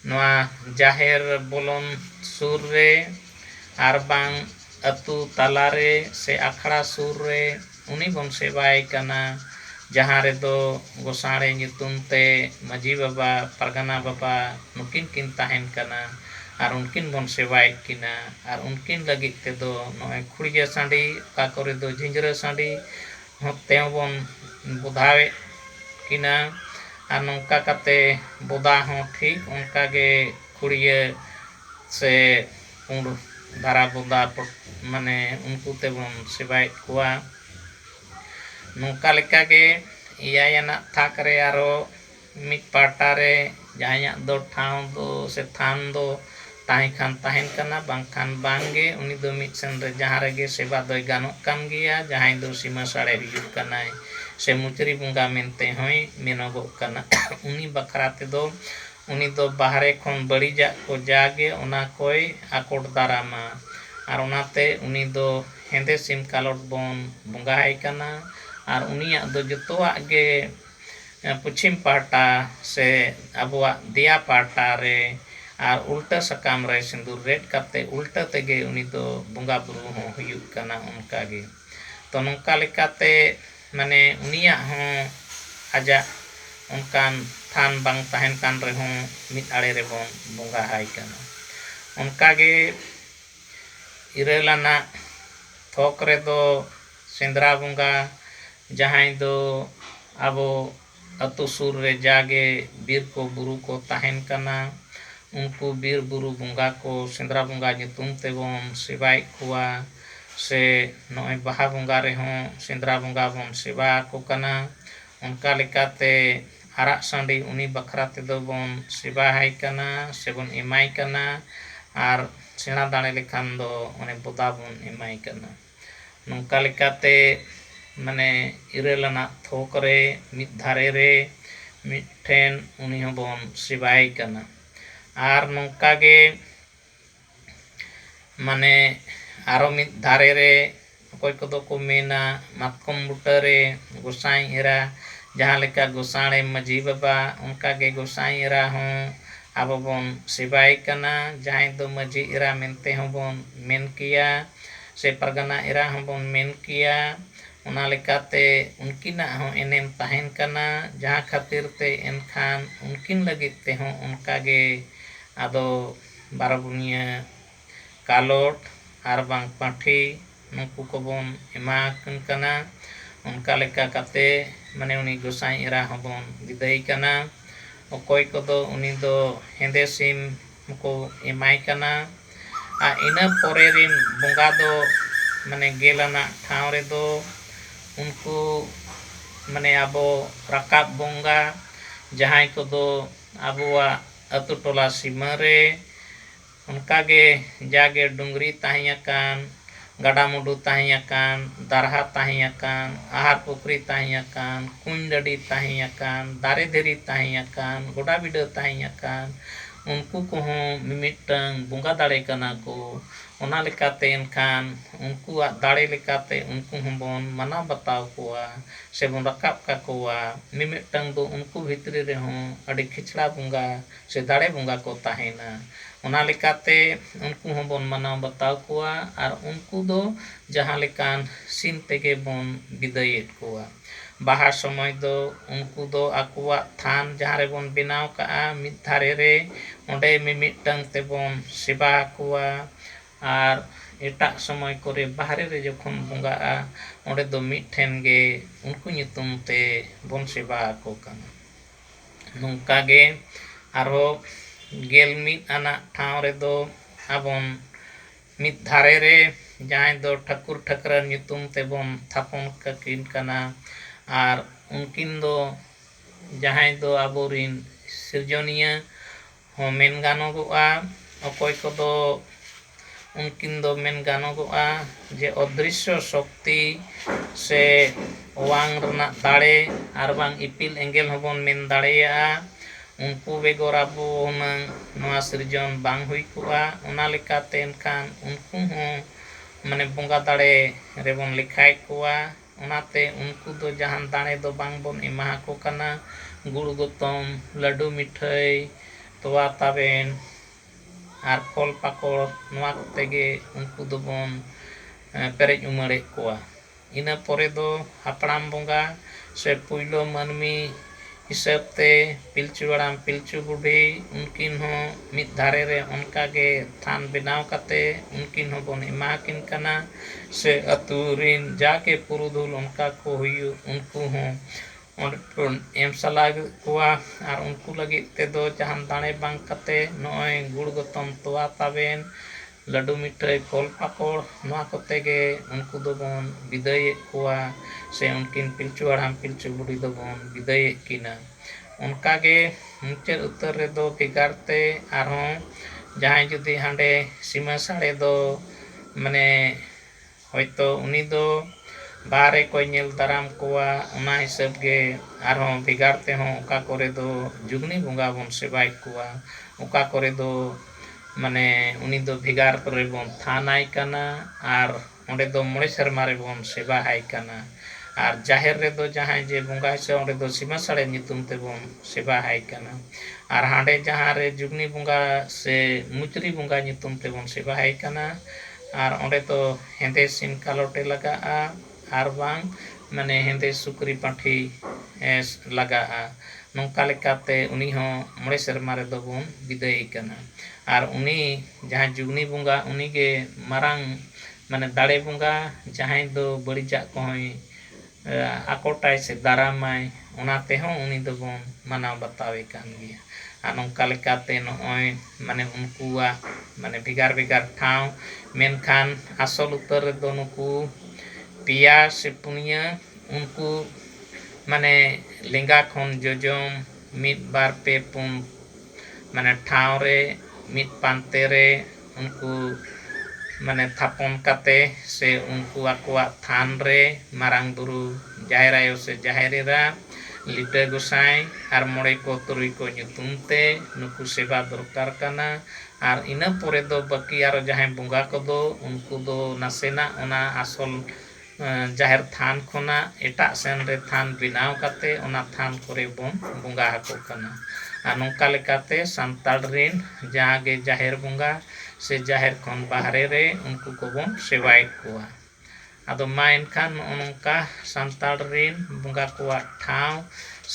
ᱱᱚᱣᱟ ᱡᱟᱦᱮᱨ ᱵᱚᱞᱚᱱ ᱥᱩᱨ ᱨᱮ ᱟᱨ ᱵᱟᱝ ᱟᱹᱛᱩ ᱛᱟᱞᱟ ᱨᱮ ᱥᱮ ᱟᱠᱷᱲᱟ ᱥᱩᱨ ᱨᱮ ᱩᱱᱤ ᱵᱚᱱ ᱥᱮᱵᱟᱭᱮ ᱠᱟᱱᱟ ᱡᱟᱦᱟᱸ ᱨᱮᱫᱚ ᱜᱚᱥᱟᱬᱮ ᱧᱩᱛᱩᱢ ᱛᱮ ᱢᱟᱹᱡᱷᱤ ᱵᱟᱵᱟ ᱯᱟᱨᱜᱟᱱᱟ ᱵᱟᱵᱟ ᱱᱩᱠᱤᱱ ᱠᱤᱱ ᱛᱟᱦᱮᱱ ᱠᱟᱱᱟ ᱟᱨ ᱩᱱᱠᱤᱱ ᱵᱚᱱ ᱥᱮᱵᱟᱭᱮᱫ ᱠᱤᱱᱟ ᱟᱨ ᱩᱱᱠᱤᱱ ᱞᱟᱹᱜᱤᱫ ᱛᱮᱫᱚ ᱱᱚᱜᱼᱚᱭ ᱠᱷᱩᱲᱭᱟᱹ ᱥᱟᱺᱰᱤ ᱚᱠᱟ ᱠᱚᱨᱮ ᱫᱚ ᱡᱷᱤᱸᱡᱽᱨᱟᱹ ᱥᱟᱺᱰᱤ ᱦᱚᱸ ᱛᱮᱦᱚᱸ ᱵᱚᱱ ᱵᱚᱫᱷᱟᱣᱮᱫ ᱠᱤᱱᱟ ᱟᱨ ᱱᱚᱝᱠᱟ ᱠᱟᱛᱮ ᱵᱚᱫᱟ ᱦᱚᱸ ᱴᱷᱤᱠ ᱚᱱᱠᱟ ᱜᱮ ᱠᱷᱩᱲᱭᱟᱹ ᱥᱮ ᱯᱩᱸᱰ ᱫᱷᱟᱨᱟ ᱵᱚᱫᱟ ᱢᱟᱱᱮ ᱩᱱᱠᱩ ᱛᱮᱵᱚᱱ ᱥᱮᱵᱟᱭᱮᱫ ᱠᱚᱣᱟ ᱱᱚᱝᱠᱟ ᱞᱮᱠᱟ ᱜᱮ ᱮᱭᱟᱭ ᱟᱱᱟᱜ ᱛᱷᱟᱠ ᱨᱮ ᱟᱨᱚ ᱢᱤᱫ ᱯᱟᱦᱴᱟ ᱨᱮ ᱡᱟᱦᱟᱸᱭᱟᱜ ᱫᱚ ᱴᱷᱟᱶ ᱫᱚ ᱥᱮ ᱛᱷᱟᱱ ᱫᱚ ᱛᱟᱦᱮᱸ ᱠᱷᱟᱱ ᱛᱟᱦᱮᱱ ᱠᱟᱱᱟ ᱵᱟᱝ ᱠᱷᱟᱱ ᱵᱟᱝ ᱜᱮ ᱩᱱᱤ ᱫᱚ ᱢᱤᱫ ᱥᱮᱱ ᱨᱮ ᱡᱟᱦᱟᱸ ᱨᱮᱜᱮ ᱥᱮᱵᱟ ᱫᱚᱭ ᱜᱟᱱᱚᱜ ᱠᱟᱱ ᱜᱮᱭᱟ ᱡᱟᱦᱟᱸᱭ ᱫᱚ ᱥᱤᱢᱟᱹ ᱥᱟᱲᱮ ᱦᱩᱭᱩᱜ ᱠᱟᱱᱟᱭ ᱥᱮ ᱢᱩᱪᱨᱤ ᱵᱚᱸᱜᱟ ᱢᱮᱱᱛᱮ ᱦᱚᱸᱭ ᱢᱮᱱᱚᱜᱚᱜ ᱠᱟᱱᱟ ᱩᱱᱤ ᱵᱟᱠᱷᱨᱟ ᱛᱮᱫᱚ ᱩᱱᱤ ᱫᱚ ᱵᱟᱦᱨᱮ ᱠᱷᱚᱱ ᱵᱟᱹᱲᱤᱡᱟᱜ ᱠᱚ ᱡᱟ ᱜᱮ ᱚᱱᱟ ᱠᱚᱭ ᱟᱠᱚᱴ ᱫᱟᱨᱟᱢᱟ ᱟᱨ ᱚᱱᱟᱛᱮ ᱩᱱᱤ ᱫᱚ ᱦᱮᱸᱫᱮ ᱥᱤᱢ ᱠᱟᱞᱚᱴ ᱵᱚᱱ ᱵᱚᱸᱜᱟ ᱟᱭ ᱠᱟᱱᱟ ᱟᱨ ᱩᱱᱤᱭᱟᱜ ᱫᱚ ᱡᱚᱛᱚᱣᱟᱜ ᱜᱮ ᱯᱩᱪᱷᱤᱢ ᱯᱟᱦᱴᱟ ᱥᱮ ᱟᱵᱚᱣᱟᱜ ᱫᱮᱭᱟ ᱯᱟᱦᱴᱟ ᱨᱮ ᱟᱨ ᱩᱞᱴᱟᱹ ᱥᱟᱠᱟᱢ ᱨᱮ ᱥᱤᱸᱫᱩᱨ ᱨᱮᱫ ᱠᱟᱛᱮ ᱩᱞᱴᱟᱹ ᱛᱮᱜᱮ ᱩᱱᱤ ᱫᱚ ᱵᱚᱸᱜᱟ ᱵᱩᱨᱩ ᱦᱚᱸ ᱦᱩᱭᱩᱜ ᱠᱟᱱᱟ ᱚᱱᱠᱟ ᱜᱮ ᱛᱚ ᱱᱚᱝᱠᱟ ᱞᱮᱠᱟᱛᱮ ᱢᱟᱱᱮ ᱩᱱᱤᱭᱟᱜ ᱦᱚᱸ ᱟᱡᱟᱜ ᱚᱱᱠᱟᱱ ᱛᱷᱟᱱ ᱵᱟᱝ ᱛᱟᱦᱮᱱ ᱠᱟᱱ ᱨᱮᱦᱚᱸ ᱢᱤᱫ ᱟᱲᱮ ᱨᱮᱵᱚᱱ ᱵᱚᱸᱜᱟ ᱦᱟᱭ ᱠᱟᱱᱟ ᱚᱱᱠᱟ ᱜᱮ ᱤᱨᱟᱹᱞ ᱟᱱᱟᱜ ᱛᱷᱚᱠ ᱨᱮᱫᱚ ᱥᱮᱸᱫᱽᱨᱟ ᱵᱚᱸᱜᱟ ᱡᱟᱦᱟᱸᱭ ᱫᱚ ᱟᱵᱚ ᱟᱹᱛᱩ ᱥᱩᱨ ᱨᱮ ᱡᱟᱜᱮ ᱵᱤᱨ ᱠᱚ ᱵᱩᱨᱩ ᱠᱚ ᱛᱟᱦᱮᱱ ᱠᱟᱱᱟ ᱩᱱᱠᱩ ᱵᱤᱨ ᱵᱩᱨᱩ ᱵᱚᱸᱜᱟ ᱠᱚ ᱥᱮᱸᱫᱽᱨᱟ ᱵᱚᱸᱜᱟ ᱧᱩᱛᱩᱢ ᱛᱮᱵᱚᱱ ᱥᱮᱵᱟᱭᱮᱫ ᱠᱚᱣᱟ ᱥᱮ ᱱᱚᱜᱼᱚᱭ ᱵᱟᱦᱟ ᱵᱚᱸᱜᱟ ᱨᱮᱦᱚᱸ ᱥᱮᱸᱫᱽᱨᱟ ᱵᱚᱸᱜᱟ ᱵᱚᱱ ᱥᱮᱵᱟ ᱟᱠᱚ ᱠᱟᱱᱟ ᱚᱱᱠᱟ ᱞᱮᱠᱟᱛᱮ ᱟᱨᱟᱜ ᱥᱟᱺᱰᱤ ᱩᱱᱤ ᱵᱟᱠᱷᱨᱟ ᱛᱮᱫᱚ ᱵᱚᱱ ᱥᱮᱵᱟ ᱟᱭ ᱠᱟᱱᱟ ᱥᱮᱵᱚᱱ ᱮᱢᱟᱭ ᱠᱟᱱᱟ ᱟᱨ ᱥᱮᱬᱟ ᱫᱟᱲᱮ ᱞᱮᱠᱷᱟᱱ ᱫᱚ ᱚᱱᱮ ᱵᱚᱫᱟ ᱵᱚᱱ ᱮᱢᱟᱭ ᱠᱟᱱᱟ ᱱᱚᱝᱠᱟ ᱞᱮᱠᱟᱛᱮ ᱢᱟᱱᱮ ᱤᱨᱟᱹᱞ ᱟᱱᱟᱜ ᱛᱷᱚᱠ ᱨᱮ ᱢᱤᱫ ᱫᱷᱟᱨᱮ ᱨᱮ ᱢᱤᱫ ᱴᱷᱮᱱ ᱩᱱᱤ ᱦᱚᱸᱵᱚᱱ ᱥᱮᱵᱟᱭᱮ ᱠᱟᱱᱟ ᱟᱨ ᱱᱚᱝᱠᱟ ᱜᱮ ᱢᱟᱱᱮ ᱟᱨᱚ ᱢᱤᱫ ᱫᱷᱟᱨᱮ ᱨᱮ ᱚᱠᱚᱭ ᱠᱚᱫᱚ ᱠᱚ ᱢᱮᱱᱟ ᱢᱟᱛᱠᱚᱢ ᱵᱩᱴᱟᱹ ᱨᱮ ᱜᱚᱸᱥᱟᱭ ᱮᱨᱟ ᱡᱟᱦᱟᱸ ᱞᱮᱠᱟ ᱜᱚᱸᱥᱟᱲᱮ ᱢᱟᱹᱡᱷᱤ ᱵᱟᱵᱟ ᱚᱱᱠᱟ ᱜᱮ ᱜᱚᱸᱥᱟᱭ ᱮᱨᱟ ᱦᱚᱸ ᱟᱵᱚ ᱵᱚᱱ ᱥᱮᱵᱟᱭᱮ ᱠᱟᱱᱟ ᱡᱟᱦᱟᱸᱭ ᱫᱚ ᱢᱟᱹᱡᱷᱤ ᱮᱨᱟ ᱢᱮᱱᱛᱮ ᱦᱚᱸᱵᱚᱱ ᱢᱮᱱ ᱠᱮᱭᱟ ᱥᱮ ᱯᱟᱨᱜᱟᱱᱟ ᱮᱨᱟ ᱦᱚᱸᱵᱚᱱ ᱢᱮᱱ ᱠᱮᱭᱟ᱾ ᱚᱱᱟ ᱞᱮᱠᱟᱛᱮ ᱩᱱᱠᱤᱱᱟᱜ ᱦᱚᱸ ᱮᱱᱮᱢ ᱛᱟᱦᱮᱱ ᱠᱟᱱᱟ᱾ ᱡᱟᱦᱟᱸ ᱠᱷᱟᱹᱛᱤᱨ ᱛᱮ ᱮᱱᱠᱷᱟᱱ ᱩᱱᱠᱤᱱ ᱞᱟᱹᱜᱤᱫ ᱛᱮᱦᱚᱸ ᱚᱱᱠᱟ ᱜᱮ ᱟᱫᱚ ᱵᱟᱨᱚᱜᱩᱱᱤᱭᱟᱹ, ᱠᱟᱞᱚᱴ ᱟᱨ ᱵᱟᱝ ᱯᱟᱹᱴᱷᱤ ᱱᱩᱠᱩ ᱠᱚᱵᱚᱱ ᱮᱢᱟ ᱟᱹᱠᱤᱱ ᱠᱟᱱᱟ᱾ ᱚᱱᱠᱟ ᱞᱮᱠᱟ ᱠᱟᱛᱮ ᱢᱟᱱᱮ ᱩᱱᱤ ᱜᱚᱸᱥᱟᱭ ᱮᱨᱟ ᱦᱚᱸᱵᱚᱱ ᱵᱤᱫᱟᱹᱭ ᱠᱟᱱᱟ᱾ ᱚᱠᱚᱭ ᱠᱚᱫᱚ ᱩᱱᱤ ᱫᱚ ᱦᱮᱸᱫᱮ ᱥᱤᱢ᱾ ᱠᱚ ᱮᱢᱟᱭ ᱠᱟᱱᱟ ᱟᱨ ᱤᱱᱟᱹ ᱯᱚᱨᱮ ᱨᱤᱱ ᱵᱚᱸᱜᱟ ᱫᱚ ᱢᱟᱱᱮ ᱜᱮᱞ ᱟᱱᱟᱜ ᱴᱷᱟᱶ ᱨᱮᱫᱚ ᱩᱱᱠᱩ ᱢᱟᱱᱮ ᱟᱵᱚ ᱨᱟᱠᱟᱵ ᱵᱚᱸᱜᱟ ᱡᱟᱦᱟᱸᱭ ᱠᱚᱫᱚ ᱟᱵᱚᱣᱟᱜ ᱟᱹᱛᱩ ᱴᱚᱞᱟ ᱥᱤᱢᱟᱹ ᱨᱮ ᱚᱱᱠᱟᱜᱮ ᱡᱟᱜᱮ ᱰᱩᱝᱨᱤ ᱛᱟᱦᱮᱸ ᱟᱠᱟᱱ ᱜᱟᱰᱟᱼᱢᱩᱰᱩ ᱛᱟᱦᱮᱸ ᱟᱠᱟᱱ, ᱫᱟᱨᱦᱟ ᱛᱟᱦᱮᱸ ᱟᱠᱟᱱ, ᱟᱦᱟᱨᱼᱯᱩᱠᱷᱨᱤ ᱛᱟᱦᱮᱸ ᱟᱠᱟᱱ, ᱠᱩᱧᱼᱰᱟᱹᱰᱤ ᱛᱟᱦᱮᱸ ᱟᱠᱟᱱ, ᱫᱟᱨᱮᱼᱫᱷᱤᱨᱤ ᱛᱟᱦᱮᱸ ᱟᱠᱟᱱ, ᱜᱚᱰᱟᱼᱵᱤᱰᱟᱹ ᱛᱟᱦᱮᱸ ᱟᱠᱟᱱ᱾ ᱩᱱᱠᱩ ᱠᱚᱦᱚᱸ ᱢᱤᱢᱤᱫᱴᱟᱹᱝ ᱵᱚᱸᱜᱟ ᱫᱟᱲᱮ ᱠᱟᱱᱟ ᱠᱚ᱾ ᱚᱱᱟ ᱞᱮᱠᱟᱛᱮ ᱮᱱᱠᱷᱟᱱ ᱩᱱᱠᱩᱣᱟᱜ ᱫᱟᱲᱮ ᱞᱮᱠᱟᱛᱮ ᱩᱱᱠᱩ ᱦᱚᱸ ᱵᱚᱱ ᱢᱟᱱᱟᱣ ᱵᱟᱛᱟᱣ ᱠᱚᱣᱟ ᱥᱮ ᱵᱚᱱ ᱨᱟᱠᱟᱵ ᱠᱟᱠᱚᱣᱟ᱾ ᱢᱤᱢᱤᱫᱴᱟᱹᱝ ᱫᱚ ᱩᱱᱠᱩ ᱵᱷᱤᱛᱨᱤ ᱨᱮᱦᱚᱸ ᱟᱹᱰᱤ ᱠᱷᱮᱪᱲᱟ ᱵᱚᱸᱜᱟ ᱥᱮ ᱫᱟᱲᱮ ᱵᱚᱸᱜᱟ ᱠᱚ ᱛᱟᱦᱮᱸᱱᱟ ᱚᱱᱟ ᱞᱮᱠᱟᱛᱮ ᱩᱱᱠᱩ ᱦᱚᱸ ᱵᱚᱱ ᱢᱟᱱᱟᱣ ᱵᱟᱛᱟᱣ ᱠᱚᱣᱟ ᱟᱨ ᱩᱱᱠᱩ ᱫᱚ ᱡᱟᱦᱟᱸ ᱞᱮᱠᱟᱱ ᱥᱤᱱ ᱛᱮᱜᱮ ᱵᱚᱱ ᱵᱤᱫᱟᱹᱭᱮᱫ ᱠᱚᱣᱟ ᱵᱟᱦᱟ ᱥᱚᱢᱚᱭ ᱫᱚ ᱩᱱᱠᱩ ᱫᱚ ᱟᱠᱚᱣᱟᱜ ᱛᱷᱟᱱ ᱡᱟᱦᱟᱸ ᱨᱮᱵᱚᱱ ᱵᱮᱱᱟᱣ ᱠᱟᱜᱼᱟ ᱢᱤᱫ ᱫᱷᱟᱨᱮ ᱨᱮ ᱚᱸᱰᱮ ᱢᱤᱢᱤᱫᱴᱟᱹᱝ ᱛᱮᱵᱚᱱ ᱥᱮᱵᱟ ᱟᱠᱚᱣᱟ ᱟᱨ ᱮᱴᱟᱜ ᱥᱚᱢᱚᱭ ᱠᱚᱨᱮ ᱵᱟᱦᱨᱮ ᱨᱮ ᱡᱚᱠᱷᱚᱱ ᱵᱚᱸᱜᱟᱜᱼᱟ ᱚᱸᱰᱮ ᱫᱚ ᱢᱤᱫ ᱴᱷᱮᱱ ᱜᱮ ᱩᱱᱠᱩ ᱧᱩᱛᱩᱢ ᱛᱮ ᱵᱚᱱ ᱥᱮᱵᱟ ᱟᱠᱚ ᱠᱟᱱᱟ ᱱᱚᱝᱠᱟᱜᱮ ᱟᱨᱦᱚᱸ ᱜᱮᱞ ᱢᱤᱫ ᱟᱱᱟᱜ ᱴᱷᱟᱶ ᱨᱮᱫᱚ ᱟᱵᱚᱱ ᱢᱤᱫ ᱫᱷᱟᱨᱮ ᱨᱮ ᱡᱟᱦᱟᱸᱭ ᱫᱚ ᱴᱷᱟᱹᱠᱩᱨ ᱴᱷᱟᱹᱠᱨᱟᱹᱱ ᱧᱩᱛᱩᱢ ᱛᱮᱵᱚᱱ ᱛᱷᱟᱯᱚᱱ ᱠᱟᱹᱠᱤᱱ ᱠᱟᱱᱟ ᱟᱨ ᱩᱱᱠᱤᱱ ᱫᱚ ᱡᱟᱦᱟᱸᱭ ᱫᱚ ᱟᱵᱚᱨᱤᱱ ᱥᱤᱨᱡᱚᱱᱤᱭᱟᱹ ᱦᱚᱸ ᱢᱮᱱ ᱜᱟᱱᱚᱜᱚᱜᱼᱟ ᱚᱠᱚᱭ ᱠᱚᱫᱚ ᱩᱱᱠᱤᱱ ᱫᱚ ᱢᱮᱱ ᱜᱟᱱᱚᱜᱚᱜᱼᱟ ᱡᱮ ᱚᱫᱨᱤᱥᱥᱚ ᱥᱚᱠᱛᱤ ᱥᱮ ᱚᱣᱟᱝ ᱨᱮᱱᱟᱜ ᱫᱟᱲᱮ ᱟᱨ ᱵᱟᱝ ᱤᱯᱤᱞ ᱮᱸᱜᱮᱞ ᱦᱚᱸ ᱵᱚᱱ ᱢᱮᱱ ᱫᱟᱲᱮᱭᱟᱜᱼᱟ ᱩᱱᱠᱩ ᱵᱮᱜᱚᱨ ᱟᱵᱚ ᱦᱩᱱᱟᱹᱝ ᱱᱚᱣᱟ ᱥᱤᱨᱡᱚᱱ ᱵᱟᱝ ᱦᱩᱭ ᱠᱚᱜᱼᱟ ᱚᱱᱟ ᱞᱮᱠᱟᱛᱮ ᱮᱱᱠᱷᱟᱱ ᱩᱱᱠᱩ ᱦᱚᱸ ᱢᱟᱱᱮ ᱵᱚᱸᱜᱟ ᱫᱟᱲᱮ ᱨᱮᱵᱚᱱ ᱞᱮᱠᱷᱟᱭᱮᱫ ᱠᱚᱣᱟ ᱚᱱᱟᱛᱮ ᱩᱱᱠᱩ ᱫᱚ ᱡᱟᱦᱟᱱ ᱫᱟᱬᱮ ᱫᱚ ᱵᱟᱝ ᱵᱚᱱ ᱮᱢᱟ ᱟᱠᱚ ᱠᱟᱱᱟ᱾ ᱜᱩᱲ ᱜᱚᱛᱚᱢ, ᱞᱟᱹᱰᱩ ᱢᱤᱴᱷᱟᱹᱭ, ᱛᱚᱣᱟ ᱛᱟᱵᱮᱱ ᱟᱨ ᱯᱷᱚᱞ ᱯᱟᱠᱚᱲ ᱱᱚᱣᱟ ᱠᱚᱛᱮ ᱜᱮ ᱩᱱᱠᱩ ᱫᱚ ᱵᱚᱱ ᱯᱮᱨᱮᱡ ᱩᱢᱟᱹᱲᱮᱫ ᱠᱚᱣᱟ᱾ ᱤᱱᱟᱹ ᱯᱚᱨᱮ ᱫᱚ ᱦᱟᱯᱲᱟᱢ ᱵᱚᱸᱜᱟ ᱥᱮ ᱯᱩᱭᱞᱳ ᱢᱟᱹᱱᱢᱤ ᱦᱤᱥᱟᱹᱵᱽ ᱛᱮ ᱯᱤᱞᱪᱩ ᱦᱟᱲᱟᱢ ᱯᱤᱞᱪᱩ ᱵᱩᱰᱷᱤ ᱩᱱᱠᱤᱱ ᱦᱚᱸ ᱢᱤᱫ ᱫᱷᱟᱨᱮ ᱨᱮ ᱚᱱᱠᱟ ᱜᱮ ᱛᱷᱟᱱ ᱵᱮᱱᱟᱣ ᱠᱟᱛᱮ ᱩᱱᱠᱤᱱ ᱦᱚᱸ ᱵᱚᱱ ᱮᱢᱟ ᱟᱹᱠᱤᱱ ᱠᱟᱱᱟ ᱥᱮ ᱟᱹᱛᱩ ᱨᱤᱱ ᱡᱟ ᱜᱮ ᱯᱩᱨᱩᱫᱷᱩᱞ ᱚᱱᱠᱟ ᱠᱚ ᱦᱩᱭᱩᱜ ᱩᱱᱠᱩ ᱦᱚᱸ ᱚᱸᱰᱮ ᱵᱚᱱ ᱮᱢ ᱥᱟᱞᱟᱜ ᱠᱚᱣᱟ ᱟᱨ ᱩᱱᱠᱩ ᱞᱟᱹᱜᱤᱫ ᱛᱮᱫᱚ ᱡᱟᱦᱟᱱ ᱫᱟᱲᱮ ᱵᱟᱝ ᱠᱟᱛᱮ ᱱᱚᱜᱼᱚᱸᱭ ᱜᱩᱲ ᱜᱚᱛᱚᱢ ᱛᱚᱣᱟ ᱛᱟᱵᱮᱱ ᱞᱟᱹᱰᱩ ᱢᱤᱴᱷᱟᱹᱭ ᱯᱷᱚᱞ ᱯᱟᱠᱚᱲ ᱱᱚᱣᱟ ᱠᱚᱛᱮ ᱜᱮ ᱩᱱᱠᱩ ᱫᱚᱵᱚᱱ ᱵᱤᱫᱟᱹᱭᱮᱫ ᱠᱚᱣᱟ ᱥᱮ ᱩᱱᱠᱤᱱ ᱯᱤᱞᱪᱩ ᱦᱟᱲᱟᱢ ᱯᱤᱞᱪᱩ ᱵᱩᱰᱷᱤ ᱫᱚᱵᱚᱱ ᱵᱤᱫᱟᱹᱭᱮᱫ ᱠᱤᱱᱟ ᱚᱱᱠᱟ ᱜᱮ ᱢᱩᱪᱟᱹᱫ ᱩᱛᱟᱹᱨ ᱨᱮᱫᱚ ᱵᱷᱮᱜᱟᱨ ᱛᱮ ᱟᱨᱦᱚᱸ ᱡᱟᱦᱟᱸᱭ ᱡᱩᱫᱤ ᱦᱟᱸᱰᱮ ᱥᱤᱢᱟᱹ ᱥᱟᱲᱮ ᱫᱚ ᱢᱟᱱᱮ ᱦᱚᱭᱛᱚ ᱩᱱᱤ ᱫᱚ ᱵᱟᱦᱨᱮ ᱠᱚᱭ ᱧᱮᱞ ᱫᱟᱨᱟᱢ ᱠᱚᱣᱟ ᱚᱱᱟ ᱦᱤᱥᱟᱹᱵᱽ ᱜᱮ ᱟᱨᱦᱚᱸ ᱵᱷᱮᱜᱟᱨ ᱛᱮᱦᱚᱸ ᱚᱠᱟ ᱠᱚᱨᱮ ᱫᱚ ᱡᱩᱜᱽᱱᱤ ᱵᱚᱸᱜᱟ ᱵᱚᱱ ᱥᱮᱵᱟᱭᱮᱫ ᱠᱚᱣᱟ ᱚᱠᱟ ᱠᱚᱨᱮ ᱫᱚ ᱢᱟᱱᱮ ᱩᱱᱤ ᱫᱚ ᱵᱷᱮᱜᱟᱨ ᱠᱚᱨᱮ ᱵᱚᱱ ᱛᱷᱟᱱ ᱟᱭ ᱠᱟᱱᱟ ᱟᱨ ᱚᱸᱰᱮ ᱫᱚ ᱢᱚᱬᱮ ᱥᱮᱨᱢᱟ ᱨᱮᱵᱚᱱ ᱥᱮᱵᱟ ᱟᱭ ᱠᱟᱱᱟ ᱟᱨ ᱡᱟᱦᱮᱨ ᱨᱮᱫᱚ ᱡᱟᱦᱟᱸᱭ ᱡᱮ ᱵᱚᱸᱜᱟ ᱦᱤᱥᱟᱹᱵᱽ ᱚᱸᱰᱮ ᱫᱚ ᱥᱤᱢᱟᱹ ᱥᱟᱲᱮ ᱧᱩᱛᱩᱢ ᱛᱮᱵᱚᱱ ᱥᱮᱵᱟ ᱟᱭ ᱠᱟᱱᱟ ᱟᱨ ᱦᱟᱸᱰᱮ ᱡᱟᱦᱟᱸ ᱨᱮ ᱡᱩᱜᱽᱱᱤ ᱵᱚᱸᱜᱟ ᱥᱮ ᱢᱩᱪᱨᱤ ᱵᱚᱸᱜᱟ ᱧᱩᱛᱩᱢ ᱛᱮᱵᱚᱱ ᱥᱮᱵᱟ ᱟᱭ ᱠᱟᱱᱟ ᱟᱨ ᱚᱸᱰᱮ ᱫᱚ ᱦᱮᱸᱫᱮ ᱥᱤᱢ ᱠᱟᱞᱚᱴ ᱮ ᱞᱟᱜᱟᱜᱼᱟ ᱟᱨ ᱵᱟᱝ ᱢᱟᱱᱮ ᱦᱮᱸᱫᱮ ᱥᱩᱠᱨᱤ ᱯᱟᱸᱴᱷᱤ ᱞᱟᱜᱟᱜᱼᱟ ᱱᱚᱝᱠᱟ ᱞᱮᱠᱟᱛᱮ ᱩᱱᱤ ᱦᱚᱸ ᱢᱚᱬᱮ ᱥᱮᱨᱢᱟ ᱨᱮᱫᱚ ᱵᱚᱱ ᱵᱤᱫᱟᱹᱭᱮ ᱠᱟᱱᱟ ᱟᱨ ᱩᱱᱤ ᱡᱟᱦᱟᱸᱭ ᱡᱩᱜᱽᱱᱤ ᱵᱚᱸᱜᱟ ᱩᱱᱤ ᱜᱮ ᱢᱟᱨᱟᱝ ᱢᱟᱱᱮ ᱫᱟᱲᱮ ᱵᱚᱸᱜᱟ ᱡᱟᱦᱟᱸᱭ ᱫᱚ ᱵᱟᱹᱲᱤᱡᱟᱜ ᱠᱚᱦᱚᱸᱭ ᱟᱠᱚᱴᱟᱭ ᱥᱮ ᱫᱟᱨᱟᱢᱟᱭ ᱚᱱᱟ ᱛᱮᱦᱚᱸ ᱩᱱᱤ ᱫᱚᱵᱚᱱ ᱢᱟᱱᱟᱣ ᱵᱟᱛᱟᱣᱮ ᱠᱟᱱ ᱜᱮᱭᱟ ᱟᱨ ᱱᱚᱝᱠᱟ ᱞᱮᱠᱟᱛᱮ ᱱᱚᱜᱼᱚᱭ ᱢᱟᱱᱮ ᱩᱱᱠᱩᱣᱟᱜ ᱢᱟᱱᱮ ᱵᱷᱮᱜᱟᱨ ᱵᱷᱮᱜᱟᱨ ᱴᱷᱟᱶ ᱢᱮᱱᱠᱷᱟᱱ ᱟᱥᱚᱞ ᱩᱛᱟᱹᱨ ᱨᱮᱫᱚ ᱱᱩᱠᱩ ᱯᱮᱭᱟ ᱥᱮ ᱯᱩᱱᱭᱟᱹ ᱩᱱᱠᱩ ᱢᱟᱱᱮ ᱞᱮᱸᱜᱟ ᱠᱷᱚᱱ ᱡᱚᱡᱚᱢ ᱢᱤᱫ ᱵᱟᱨ ᱯᱮ ᱯᱩᱱ ᱢᱟᱱᱮ ᱴᱷᱟᱶ ᱨᱮ ᱢᱤᱫ ᱯᱟᱱᱛᱮ ᱨᱮ ᱩᱱᱠᱩ ᱢᱟᱱᱮ ᱛᱷᱟᱯᱚᱱ ᱠᱟᱛᱮ ᱥᱮ ᱩᱱᱠᱩ ᱟᱠᱚᱣᱟᱜ ᱛᱷᱟᱱ ᱨᱮ ᱢᱟᱨᱟᱝ ᱵᱩᱨᱩ, ᱡᱟᱦᱮᱨ ᱟᱭᱳ ᱥᱮ ᱡᱟᱦᱮᱨ ᱮᱨᱟ, ᱞᱤᱴᱟᱹ ᱜᱚᱸᱥᱟᱭ ᱟᱨ ᱢᱚᱬᱮ ᱠᱚ ᱛᱩᱨᱩᱭ ᱠᱚ ᱧᱩᱛᱩᱢ ᱛᱮ ᱱᱩᱠᱩ ᱥᱮᱵᱟ ᱫᱚᱨᱠᱟᱨ ᱠᱟᱱᱟ ᱟᱨ ᱤᱱᱟᱹ ᱯᱚᱨᱮ ᱫᱚ ᱵᱟᱹᱠᱤ ᱟᱨᱚ ᱡᱟᱦᱟᱸᱭ ᱵᱚᱸᱜᱟ ᱠᱚᱫᱚ ᱩᱱᱠᱩ ᱫᱚ ᱱᱟᱥᱮᱱᱟᱜ ᱚᱱᱟ ᱟᱥᱚᱞ ᱡᱟᱦᱮᱨ ᱛᱷᱟᱱ ᱠᱷᱚᱱᱟᱜ ᱮᱴᱟᱜ ᱥᱮᱱ ᱨᱮ ᱛᱷᱟᱱ ᱵᱮᱱᱟᱣ ᱠᱟᱛᱮ ᱚᱱᱟ ᱛᱷᱟᱱ ᱠᱚᱨᱮ ᱵᱚᱱ ᱵᱚᱸᱜᱟ ᱟᱠᱚ ᱠᱟᱱᱟ ᱟᱨ ᱱᱚᱝᱠᱟ ᱞᱮᱠᱟᱛᱮ ᱥᱟᱱᱛᱟᱲ ᱨᱮᱱ ᱡᱟᱦᱟᱸ ᱜᱮ ᱡᱟᱦᱮᱨ ᱵᱚᱸᱜᱟ ᱥᱮ ᱡᱟᱦᱮᱨ ᱠᱷᱚᱱ ᱵᱟᱦᱨᱮ ᱨᱮ ᱩᱱᱠᱩ ᱠᱚᱵᱚᱱ ᱥᱮᱵᱟᱭᱮᱫ ᱠᱚᱣᱟ ᱟᱫᱚ ᱢᱟ ᱮᱱᱠᱷᱟᱱ ᱱᱚᱜᱼᱚ ᱱᱚᱝᱠᱟ ᱥᱟᱱᱛᱟᱲ ᱨᱮᱱ ᱵᱚᱸᱜᱟ ᱠᱚᱣᱟᱜ ᱴᱷᱟᱶ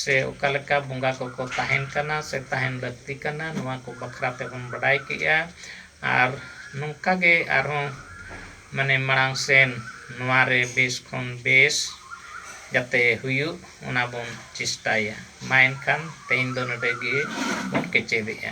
ᱥᱮ ᱚᱠᱟ ᱞᱮᱠᱟ ᱵᱚᱸᱜᱟ ᱠᱚᱠᱚ ᱛᱟᱦᱮᱱ ᱠᱟᱱᱟ ᱥᱮ ᱛᱟᱦᱮᱱ ᱞᱟᱹᱠᱛᱤ ᱠᱟᱱᱟ ᱱᱚᱣᱟ ᱠᱚ ᱵᱟᱠᱷᱨᱟ ᱛᱮᱵᱚᱱ ᱵᱟᱰᱟᱭ ᱠᱮᱜᱼᱟ ᱟᱨ ᱱᱚᱝᱠᱟ ᱜᱮ ᱟᱨᱦᱚᱸ ᱢᱟᱱᱮ ᱢᱟᱲᱟᱝ ᱥᱮᱱ ᱱᱚᱣᱟ ᱨᱮ ᱵᱮᱥ ᱠᱷᱚᱱ ᱵᱮᱥ ᱡᱟᱛᱮ ᱦᱩᱭᱩᱜ ᱚᱱᱟ ᱵᱚᱱ ᱪᱮᱥᱴᱟᱭᱟ ᱢᱟ ᱮᱱᱠᱷᱟᱱ ᱛᱮᱦᱮᱧ ᱫᱚ ᱱᱚᱰᱮ ᱜᱮ ᱵᱚᱱ ᱠᱮᱪᱮᱫᱮᱜᱼᱟ᱾